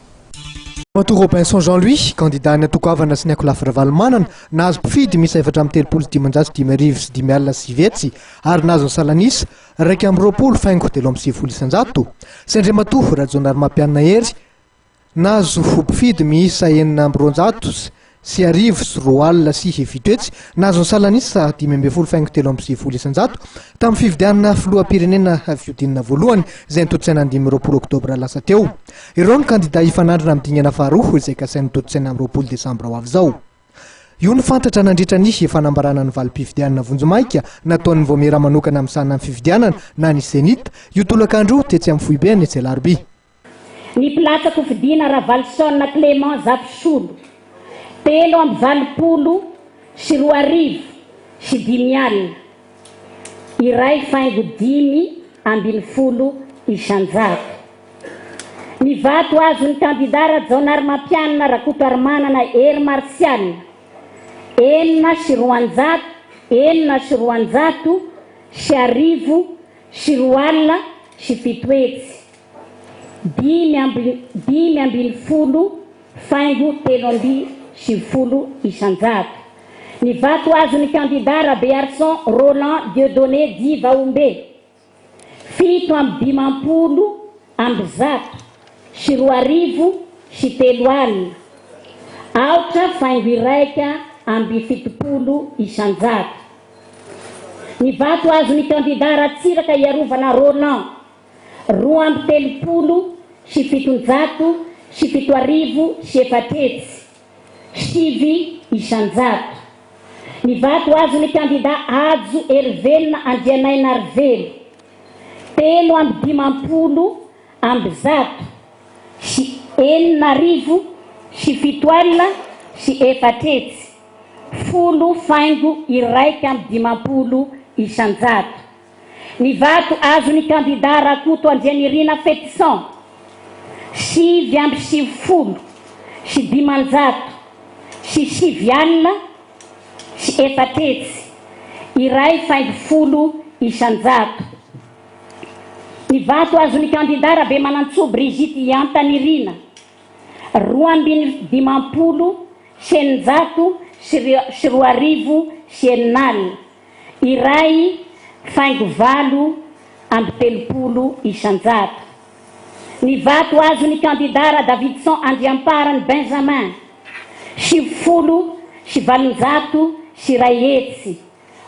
Ramatoa Robinson Jean Louis, kandidà ny antoko Havana sy ny Akolafy Ravalomanana, nahazo mpifidy miisa efatra amby telopolo sy dimanjato sy dimy arivo sy dimy alina sy sivy hetsy ary nahazo ny salan'isa iraika amby roapolo faingo telo amby sivifolo isanjato, sy Andriamatoa Rajaonarimampianina Hery, Nahazo fo mpifidy miisa enina amby roanjato sy arivo sy roa alina sy hevito etsy, nahazo ny salan'isa dimy ambin'ny folo faingo telo amby sivifolo isanjato, tamin'ny fifidianana filoham-pirenena fihodinana voalohany izay notontosaina ny dimy amby roapolo oktobra lasa teo. Ireo no kandida hifanandrina amin'ny dingana faharoa izay kasainy hotontosaina amin'ny roapolo desambra ho avy izao. Io no fantatra nandritra ny fanambarana ny valim-pifidianana vonjimaika nataon'ny Vaomiera manokana misahana ny fifidianana na ny Zenith io tolakandro io tetsy amin'ny foibeny tsy alarobia. Ny mpilatsa-kofidina Ravaloson Clément Zafisolo, telo amby valopolo sy roa arivo sy dimy alina, iray faingo dimy ambin'ny folo isan-jato. Ny vato azon'ny kandidà Rajaonarimampianina Rakotoarimanana Hery Martial, enina sy roanjato, enina sy roanjato sy arivo sy roa alina sy fito hetsy. dimy amby dimy ambin'ny folo faingo telo amby sivifolo isan-jato. Ny vato azon'ny kandidà Rabearison Roland Dieudonné dit Vahombe, fito amby dimampolo amby zato sy roa arivo sy telo alina, aotra faingo iraika amby fitopolo isan-jato. Ny vato azon'ny kandidà Ratsiraka Iarovana Roland, roa amby telopolo sy fitonjato sy fito arivo sy efatra hetsy, sivy isan-jato. Ny vato azon'ny kandidà Hajo Herivelona Andrianainarivelo, telo amby dimampolo amby zato sy enina arivo sy fito alina sy efatra hetsy, folo faingo iraika amby dimampolo isan-jato. Ny vato azon'ny kandidà Rakoto Andrianirina Fetison, sivy amby sivifolo sy dimanjato sy sivy alina sy efatra hetsy, iray faingo folo isan-jato. Ny vato azon'ny kandidà Rabemanantsoa Brigitte Iantanirina, roa ambin'ny dimampolo sy eninjato sy roa arivo sy enina alina. iray faingo valo amby telopolo isan-jato. Ny vato azon'ny kandidà Radavidson Andriamparany Benjamin, sivifolo sy valonjato sy iray hetsy,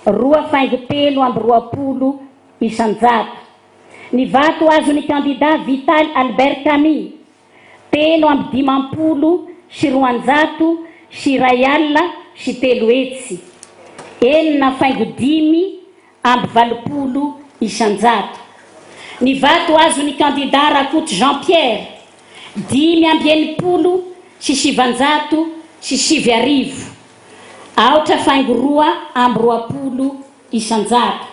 roa faingo telo amby roapolo isan-jato. Ny vato azon'ny kandidà Vital Albert Camille, Telo amby dimampolo sy roanjato sy iray alina sy telo hetsy, enina faingo dimy amby valopolo isan-jato. Ny vato azon'ny kandidà Rakoto Jean Pierre, dimy amby enimpolo sy sivanjato sy sivy arivo, aotra faingo roa amby roapolo isan-jato.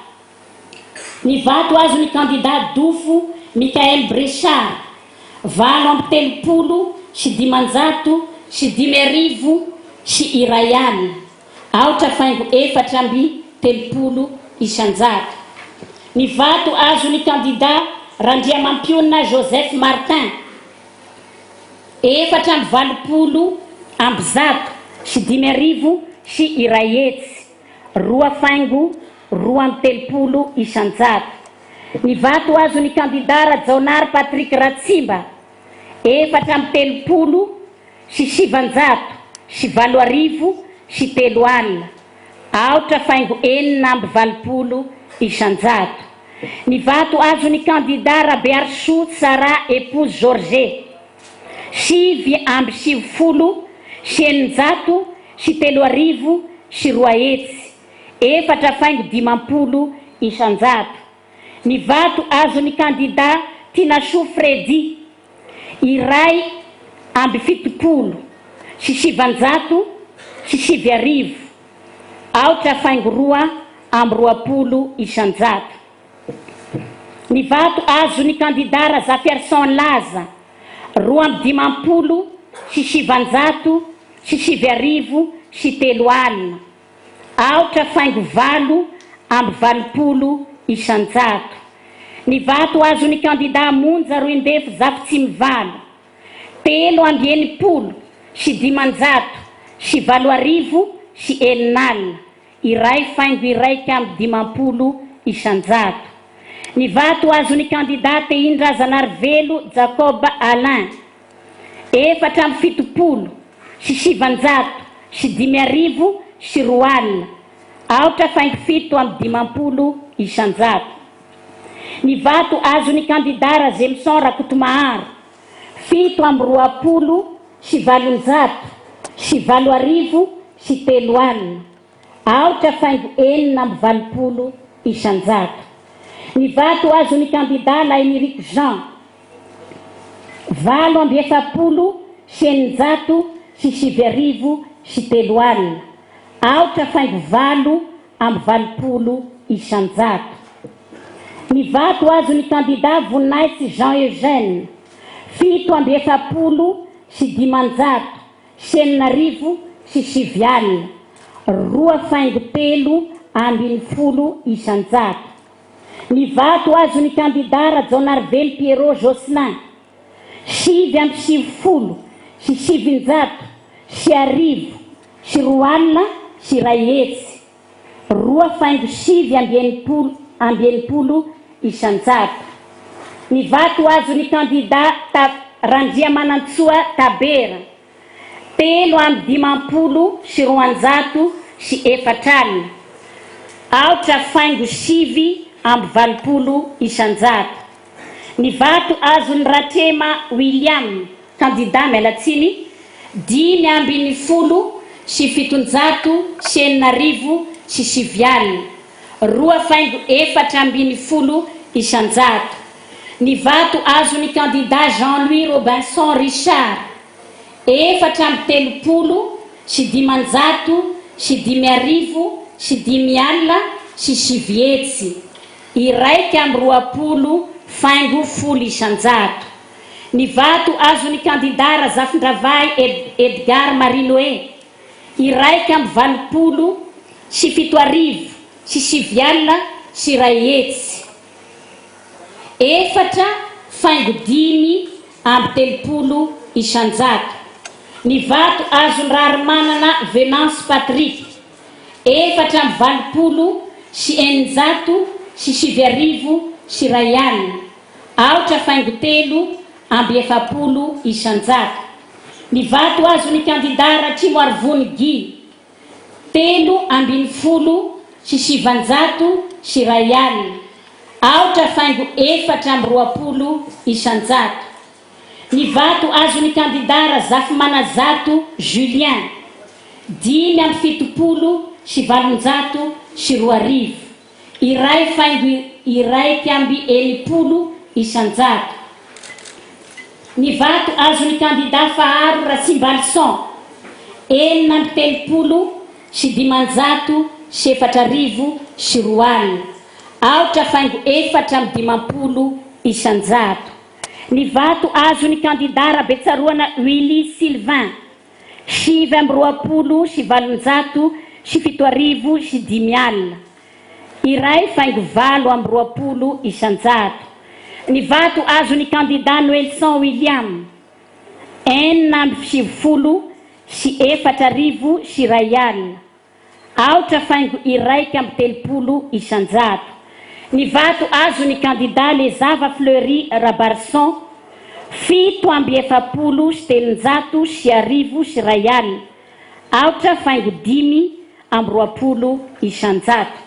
Ny vato azon'ny kandidà dofo Michael Bressard, valo amby telopolo sy dimanjato sy dimy arivo sy iray alina, aotra faingo efatra amby telopolo isan-jato. Ny vato azon'ny kandidà Randriamampiona Joseph Martin, efatra amby valopolo amby zato sy dimy arivo sy iray hetsy, roa faingo roa amby telopolo isan-jato. Ny vato azon'ny kandidà Rajaonary Patrick Ratsimba, efatra amby telopolo sy sivan-jato sy valo arivo sy telo alina, aotra faingo enina amby valopolo isan-jato. Ny vato azon'ny kandidà Rabearisoa Tsara Épouse George, sivy amby sivifolo sy eninjato sy telo arivo sy roa hetsy, efatra faingo dimampolo isan-jato, ny vato azon'ny kandidà Tinasoa Freddy, iray amby fitopolo sy sivan-jato sy sivy arivo, aotra faingo roa amby roapolo isan-jato, ny vato azon'ny kandidà Razafiarison Laza, roa amby dimampolo sy sivan-jato sy sivy arivo sy telo alina. Aotra faingo valo amby valopolo isan-jato ny vato azon'ny kandidà Monja Roindefo Zafitsimivalo, telo amby enimpolo sy dimanjato sy valo arivo sy enina alina, iray faingo iraika amby dimampolo isan-jato ny vato azon'ny kandidà Tehin-drazanarivelo Jacob Alain. efatra amby fitopolo sy sivanjato sy dimy arivo sy roa alina, aotra faingo fito amby dimampolo isanjato. Ny vato azon'ny kandidà Razemison Rakotomaharo, fito amby roapolo sy valonjato sy valo arivo sy telo alina. Aotra saingy enina amby valopolo isan-jato ny vato azon'ny kandidà Lahiniriko Jean, valo amby efapolo sy eninjato sy sivy arivo sy telo alina, aotra faingo valo amby valopolo isan-jato ny vato azon'ny kandidà Voninahitsy Jean Eugène, fito amby efapolo sy dimanjato sy enina arivo sy sivy alina, roa faingo telo ambin'ny folo isan-jato. Ny vato azon'ny kandidà Rajaonarivelo Pierrot Jocelyn, sivy amby sivifolo sy sivinjato sy arivo sy roa alina sy iray hetsy. roa faingo sivy amby enimpolo amby enimpolo isan-jato. Ny vato azon'ny kandidà Ta Randriamanantsoa Tabera, telo amby dimampolo sy roanjato sy efatra alina, aotra faingo sivy amby valopolo isan-jato. Ny vato azon'i Ratrema William, kandidà Mialatsiny, dimy ambin'ny folo sy fitonjato sy enina arivo sy sivy alina, roa faingo efatra ambin'ny folo isan-jato. Ny vato azon'ny kandidà Jean Louis Robinson Richard, efatra amby telopolo sy dimanjato sy dimy arivo sy dimy alina sy sivy hetsy, iraika amby roapolo faingo folo isan-jato. Ny vato azon'ny kandidà Razafindravahy Edgard Marinoe, iraika amby valopolo sy fito arivo sy sivy alina sy iray hetsy, efatra faingo dimy amby telopolo isan-jato. Ny vato azon'i Raharimanana Venance Patrick, efatra amby valopolo sy eninjato sy sivy arivo sy iray alina, aotra faingo telo amby efapolo isan-jato. Ny vato azon'ny kandidà Ratrimoarivony Guy, telo ambin'ny folo sy sivanjato sy iray alina, aotra faingo efatra amby roapolo isan-jato. Ny vato azon'ny kandidà Razafimananjato Julien, dimy amby fitopolo sy valonjato sy roa arivo, iray faingo iraika amby enimpolo isanjato. Ny vato azon'ny kandidà Faharo Ratsimbalison, enina amby telopolo sy dimanjato sy efatra arivo sy roa alina, aotra faingo efatra amby dimampolo isanjato. Ny vato azon'ny kandidà Rabetsaroana Willy Sylvain, sivy amby roapolo sy valonjato sy fito arivo sy dimy alina, iray faingo valo amby roapolo isan-jato. Ny vato azon'ny kandidà Noelson William, enina amby sivifolo sy efatra arivo sy iray alina, Aotra faingo iraika amby telopolo isan-jato ny vato azon'ny kandida Les Zava Fleury Rabarison, fito amby efapolo sy telonjato sy arivo sy iray alina, aotra faingo dimy amby roapolo isan-jato.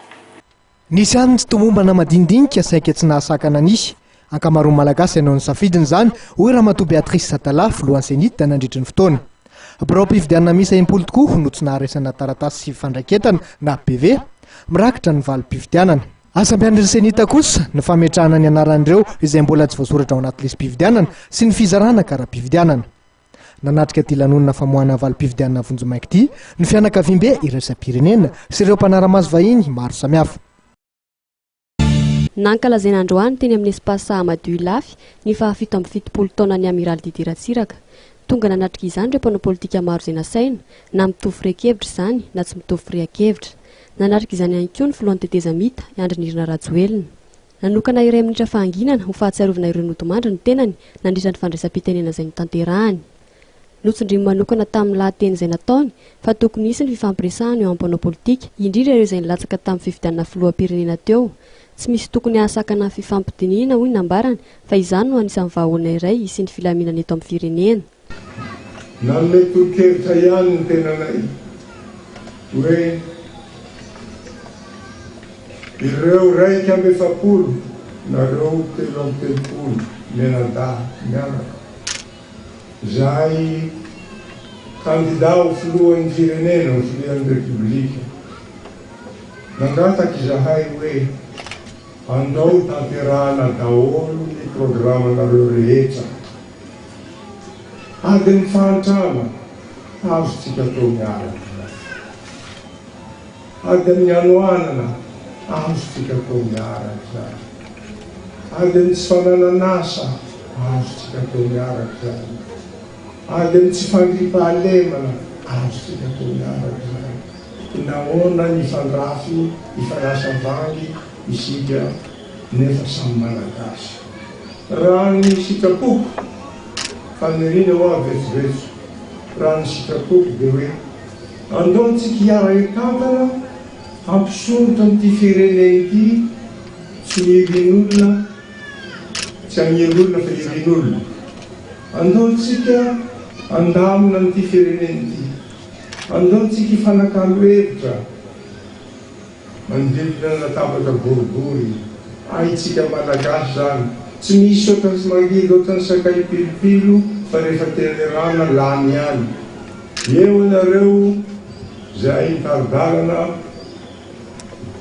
Nisy ihany ny tomombana madinidinika saingy tsy nahasakana nisy. Ankamaroan'ny Malagasy hanao ny safidiny izany, hoy Ramatoa Béatrice Satala, filohan'ny CENIT, nandritra ny fotoana. Biraom-pifidianana miisa impolo tokoa no tsy naharesana taratasy sy fandraiketana na PV. Mirakitra ny valim-pifidianana. Asa ampian'ny CENIT kosa ny fametrahana ny anaran'ireo izay mbola tsy voasoratra ao anaty lisi-pifidianana sy ny fizarana kara-pifidianana. Nanatrika ity lanonana famoahana valim-pifidianana vonjimaika ity ny fianakaviambe iraisam-pirenena sy ireo mpanara-maso vahiny maro samihafa. Nankalazaina androany teny amin'ny Espace Ahmadou Ilafy ny fahafito amby fitopolo taonan'ny Amiraly Didier Ratsiraka. Tonga nanatrika izany ireo mpanao politika maro izay nasaina, na mitovy fire-kevitra izany na tsy mitovy firian-kevitra. Nanatrika izany ihany koa ny filohan'ny tetezamita, i Andry Nirina Rajoelina. Nanokana iray minitra fahanginana ho fahatsiarovana ireo nodimandry ny tenany nandritra ny fandraisam-pitenenana izay notanterahany. Notsindriny manokana tamin'ny lahateny izay nataony fa tokony hisy ny fifampiresahana eo amin'ny mpanao politika, indrindra ireo izay nilatsaka tamin'ny fifidianana filoham-pirenena teo. Tsy misy tokony hahasakana ny fifampidinihina, hoy ny nambarany, fa izany no anisan'ny vahaolana iray hisian'ny filaminana eto amin'ny firenena. Nanome tolo-kevitra ihany ny tenanay hoe ireo iraika amby efapolo nareo telo amby telopolo mianadahy mianaka izay kandida ho filohan'ny firenena, ho filohan'ny Repoblika, nangataka izahay hoe andao tanterahana daholo ny programanareo rehetra. Adin'ny fahantrana azontsika atao miaraka. Adin'ny hanoanana azontsika atao miaraka. Adin'ny tsy fananan'asa azontsika atao miaraka. Adin'ny tsy fandriampahalemana azontsika atao miaraka. Nahoana ny hifandrafy, hifanasa vangy isika? nefa samy Malagasy. Raha ny sitrapoko, faniriana hoa vetsovetso, raha ny sitrapoko dia hoe andao antsika hiara-hitantana hampisondrotra an'ity firenena ity tsy ny irin'olona, tsy an'ny irin'olona fa irin'olona. Andao antsika handamina an'ity firenena ity, andao antsika hifanakalo hevitra. Manodidina ny latabatra boribory. Hay tsika malagasy zany. Tsy misy otrany sy mangidy otrany sakay pilopilo fa rehefa tenerana lany ihany. Eo ianareo zay mitari-dalana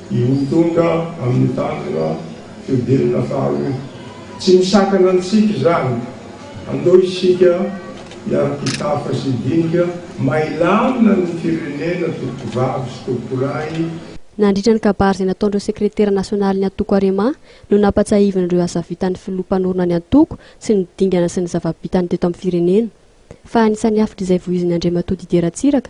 i ho tonga amin'ny tanjona fihodinana faharoa. Tsy misakana antsika izany. Andao isika miara-pitafa sy dinika may lamina ny firenena tompovavy sy tompolahy. Nandritra ny kabary izay nataon'ireo sekretera nasionalin'ny antoko Arema no nampatsiahivina ireo asa vitan'ny filoha mpanorina ny antoko sy ny dingana sy ny zava-bitany teto amin'ny firenena. Fa anisan'ny hafitr'izay vohizin'i Andriamatoa Didier Ratsiraka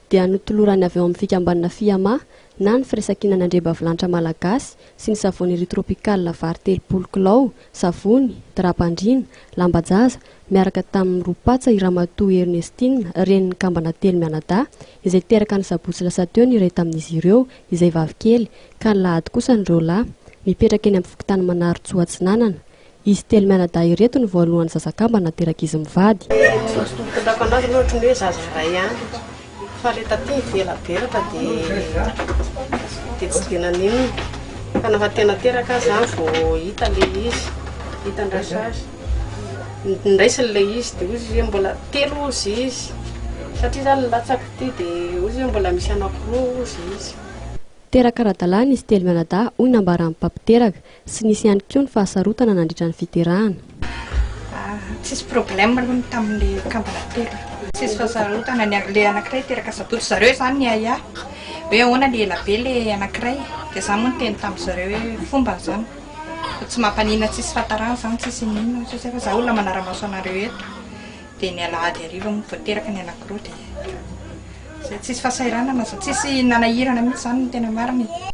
dia notolorany avy ao amin'ny fikambanana Fiama na ny firaisankinana andriambavilanitra malagasy sy ny savony Riz Tropical vary telopolo kilao, savony, drap-pandriana, lamba-jaza, miaraka tamin'ny roa patsa i Ramatoa Ernestine, renin'ny kambana telo mianadahy, izay teraka ny sabotsy lasa teo ny iray tamin'izy ireo, izay vavikely, ka nilahady kosa ny roa lahy. Mipetraka eny amin'ny fokontany Manarintsoa Atsinanana. Izy telo mianadahy ireto no voalohan'ny zazakamba naterak'izy mivady. Ny maso tompontolako anazy aloha ohatran'ny hoe zaza iray ihany fa ilay taty nivela beraka dia dia tsy dia naninona fa nafa tena teraka aho izany vao hita ilay izy, hita an-dRasazy. Niraisiny ilay izy dia hoy izy hoe mbola telo hozy izy satria izaho nilatsaka ity dia hoy izy hoe mbola misy anakiroa hozy izy. Teraka ara-dalàna izy telo mianadahy hoy nambaran'ny mpampiteraka. Tsy nisy ihany koa ny fahasarotana nandritra ny fiterahana. Tsisy problème aloha ny tamin'ny kambana telo. Tsisy fahasarotana, ny ilay anankiray teraka sabotsy, ry zareo izany niahiahy hoe ahoana ilay ela be ilay anankiray, dia izaho moa niteny tamin-dry zareo hoe fomba izany, fa tsy mampaninona, tsisy fahatarana izany, tsisy inona inona, hoy sasany, fa izaho olona manara-maso anareo eto, dia ny alahady hariva moa vao teraka ny anankiroa, dia izay, tsisy fahasahiranana, tsisy nanahirana mihintsy izany no tena marina e.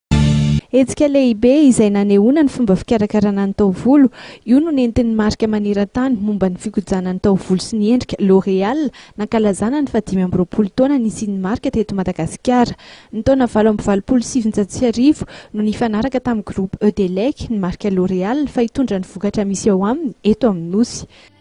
Hetsika lehibe izay nanehoana ny fomba fikarakarana ny taovolo. Io no nentin'ny marika maneran-tany momba ny fikojana ny taovolo sy ny endrika, L'Oréal, nankalazana ny fahadimy amby roapolo taona nisian'ny marika teto Madagasikara. Ny taona valo amby valopolo sy sivinjato sy arivo no nifanaraka tamin'ny Groupe Eudelec ny marika L'Oréal fa hitondra ny vokatra misy ao aminy eto amin'ny Nosy.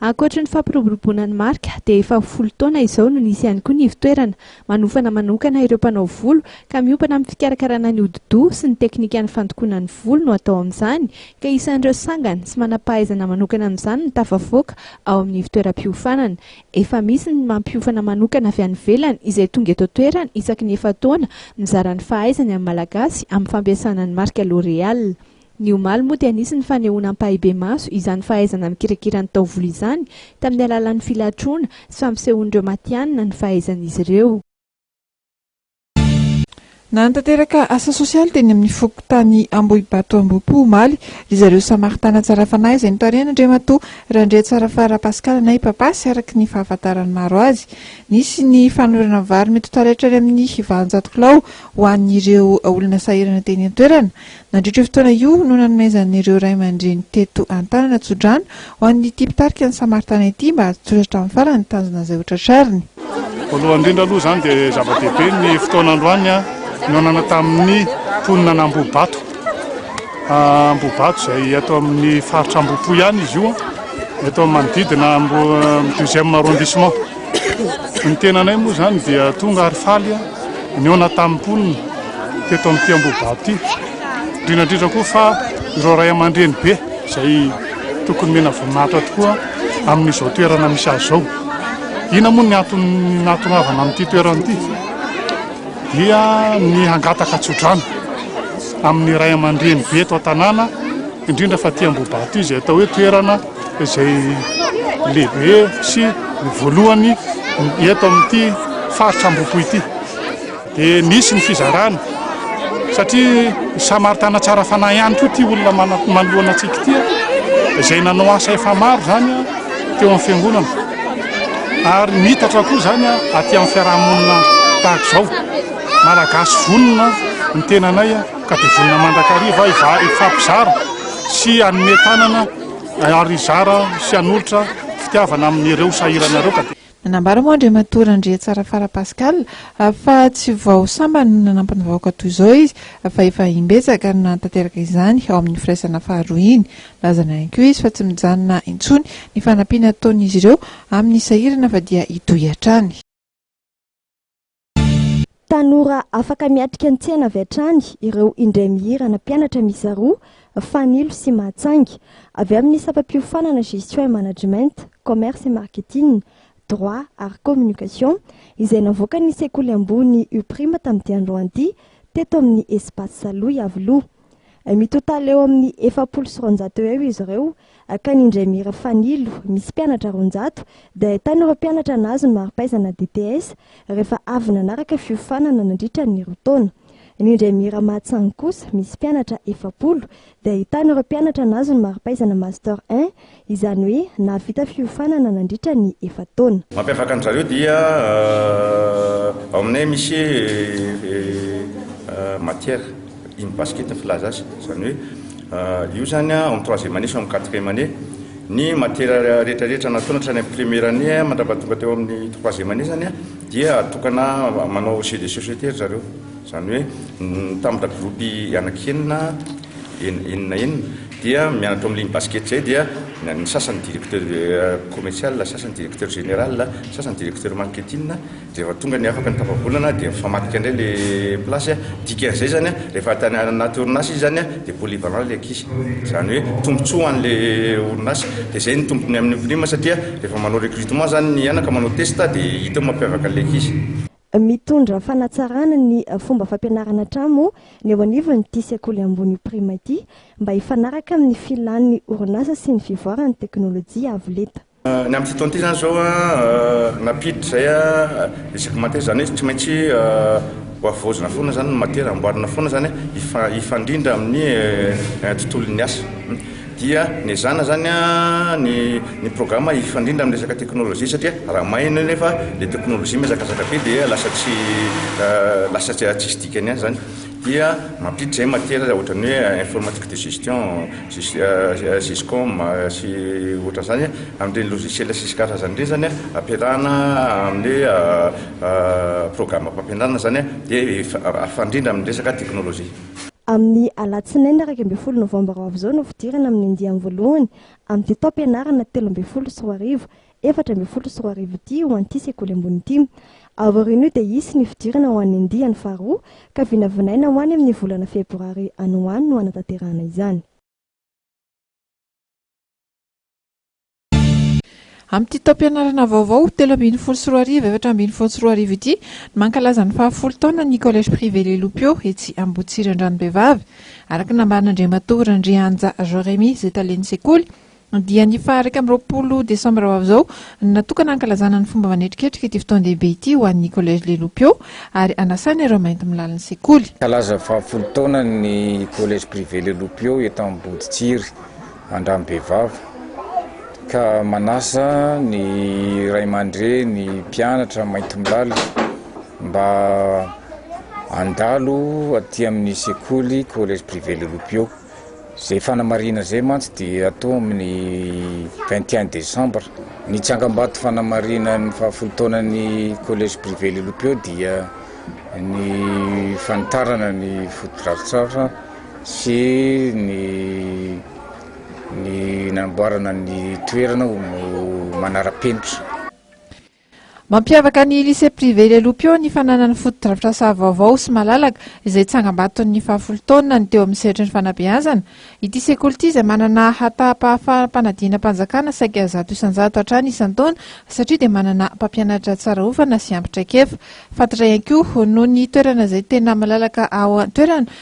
Ankoatry ny fampiroboroboana ny marika dia efa ho folo taona izao no nisy ihany koa ny ivotoerana manofana manokana ireo mpanao volo ka miompana amin'ny fikarakarana ny hodi-doha sy ny teknikan'ny fandokoana ny volo no atao amin'izany ka isan'ireo sangany sy manam-pahaizana manokana amin'izany no tafavoaka ao amin'ny ivotoeram-piofanana. Efa misy ny mampiofana manokana avy any ivelany izay tonga eto an-toerana isaky ny efa-taona mizara ny fahaizany amin'ny Malagasy amin'ny fampiasana ny marika L'Oréal. Ny omaly moa dia nisy ny fanehoana ampahibemaso izany fahaizana mikirakira ny taovolo izany tamin'ny alalan'ny filatroana sy fampisehoan'ireo matihanina ny fahaizan'izy ireo. Nanatanteraka asa sosialy teny amin'ny fokontany Ambohibato Ambohipo omaly ry zareo Samaritana Tsarafanahy izay notarihan'Andriamatoa Randriatsarafaha Rapascal na i Papa sy araka ny fahafantaran'ny maro azy nisy ny fanoherana vary mety ho taretra any amin'ny valonjato kilao ho an'ireo olona sahirana teny an-toerana Nandritra io fotoana io no nanomezan'ireo ray aman-dreny teto an-tanana tsodrano ho an'ity mpitarika ny Samaritana ity mba hatotosa hatramin'ny farany ny tanjona izay hotratrariny. Voalohany indrindra aloha izany dia zava-dehibe ny fotoana androany nionana tamin'ny mponina an'Ambohibato. Ambohibato izay ato amin'ny faritra Ambohipo ihany izy io, eto amin'ny manodidina amin'ny deuxième arrondissement. Ny tenanay moa izany dia tonga ary faly nihaona tamin'ny mponina teto amin'ity Ambohidahy ity. Indrindra indrindra koa fa ireo ray aman-dreny be izay tokony omena voninahitra tokoa amin'izao toerana misy azy izao. Inona moa ny antony nahatongavana amin'ity toerana ity? Dia ny hangataka tsodrano amin'ny ray aman-dreny be eto an-tanàna, indrindra fa aty Ambohidahy ity izay atao hoe toerana izay lehibe sy ny voalohany eto amin'ity faritra Ambohipo ity. Dia misy ny fizarana satria samaritana tsara fanahy ihany koa ity olona manoloana antsika ity izay nanao asa efa maro izany teo amin'ny fiangonana ary mitatra koa izany aty amin'ny fiarahamonina tahaka izao malagasy vonona ny tenanay ka dia vonona mandrakariva hifampizara sy hanome tanana Ary hizara sy hanolotra fitiavana amin'ireo sahirana ireo ka dia. Nanambara moa Andriamatoa Randriatsarafara Pascal fa tsy vao sambany no nanampy ny vahoaka toy izao izy fa efa imbetsaka no nanatanteraka izany ao amin'ny firaisana faharoa iny. Lazany ihany koa izy fa tsy mijanona intsony ny fanampiana ataon'izy ireo amin'ny sahirana fa dia hitohy hatrany. Tanora afaka miatrika ny tsena avy hatrany ireo indray mihira ana mpianatra miisa roa, Fanilo sy Mahatsainga. Avy amin'ny sampam-piofanana Gestion et Management, Commerce et Marketing, Droit ary Communication izay navoakan'ny sekoly ambony UPRIMA tamin'ity androany ity teto amin'ny Espace Saloha Iavoloha. Mitotale eo amin'ny efapolo sy roanjato eo eo izy ireo, akany Indremira Fanilo, misy mpianatra roanjato, dia ahitana ireo mpianatra nahazo ny mari-pahaizana DTS rehefa avy nanaraka fiofanana nandritra ny roa taona. Ny Indremira Mahatsangy kosa, misy mpianatra efapolo, dia ahitana ireo mpianatra nahazo ny mari-pahaizana Master un Izany hoe nahavita fiofanana nandritra ny efa-taona. Mampiavaka an-dry zareo dia ao aminay misy matière in basket filaza azy, izany hoe io izany ao amin'ny troisième année sy ao amin'ny quatrième année ny matière rehetrarehetra nataony hatrany amin'ny première année mandrapaha tonga teo amin'ny troisième année izany dia atokana manao jeux de société ry zareo, izany hoe mitambatra groupe anaky enina, enina enina. dia mianatra ao amin'ny ligne basket zay dia ny sasany directeur commercial, ny sasany directeur général, ny sasany directeur marketing, dia rehefa tonga ny afaka ny tapabolana dia mifamadika indray le place a, dikan'izay zany a rehefa tany anaty orinasa izy zany a dia polyvalent le ankizy, zany hoe tombotsoa ho an'le orinasa, dia zay no tombony amin'ny prime satria rehefa manao recrutement zany ny anaka manao test dia hita eo mampiavaka an'le ankizy. Mitondra fanatsarana ny fomba fampianarana hatramo ny eo anivon'ity sekoly ambony io Prima ity mba hifanaraka amin'ny filan'ny orinasa sy ny fivoaran'ny teknolojia avo lenta. Ny amin'ity taona ity izany izao nampiditra izay isaky ny matière, izany hoe tsy maintsy ho havaozina foana izany ny matière, amboarina foana izany hifandrindra amin'ny tontolon'ny asa. dia nezahana izany ny ny programa hifandrindra amin'ny resaka teknolojia satria raha may ianao nefa ilay teknolojia mihazakazaka be dia lasa tsy lasa tsy tsisy dikany ihany izany dia mampiditra izay matière ohatran'ny hoe informatique de gestion gescom sy ohatran'izany amin'ireny logiciel sy karazany ireny izany ampiarahana amin'ny hoe programa-pampianarana izany dia hifandrindra amin'ny resaka teknolojia Amin'ny alatsinainy iraika ambin'ny folo novambra ho avy izao no fidirana amin'ny andiany voalohany amin'ity taom-pianarana telo ambin'ny folo sy roa arivo, efatra ambin'ny folo sy roa arivo ity ho an'ity sekoly ambony ity. Aorian'io dia hisy ny fidirana ho an'ny andiany faharoa ka vinavinaina ho any amin'ny volana febroary any ho any no hanatanterahana izany. Amin'ity taom-pianarana vaovao telo ambin'ny folo sy roa arivo efatra ambin'ny folo sy roa arivo ity no mankalaza ny fahafolo taona ny Collège Privé Les Lopiaux etsy Ambohitsiry Andranombehivavy. Araka ny nambaran'Andriamatoa Randrianja Joremy izay talen'ny sekoly dia ny faha iraika amby roapolo desambra ho avy izao no natokana hankalazana ny fomba manetriketrika ity fotoan-dehibe ity ho an'ny Collège Les Lopiaux ary hanasana ireo mainty milalin'ny sekoly. Mankalaza fahafolo taona ny Collège Privé Les Lopiaux eto Amboditsiry. andranom-behivavy ka manasa ny ray aman-dreny, mpianatra maintimolaly mba handalo aty amin'ny sekoly Collège Privé Le Loupio. Izay fanamarihana izay mantsy dia hatao amin'ny vingt et un décembre. Ny tsangambato fanamarihana ny fahafoy taonan'ny Collège Privé Le Loupio dia ny fanitarana ny fotodrafitrasa. sy ny ny namboarana ny toerana ho manara-penitra. Mampiavaka ny Lycée Privé Ilelopio ny fananany fotodrafitrasa vaovao sy malalaka izay tsangambaton'ny fahafolo taonina ny teo amin'ny sehatry ny fanabeazana. Ity sekoly ity izay manana hatahampahafaham-panadinam-panjakana saika zato isan-jato hatrany isan-taona satria dia manana mpampianatra tsara hofana sy ampy traikefa fantatra ihany koa noho ny toerana izay tena malalaka ao an-toerana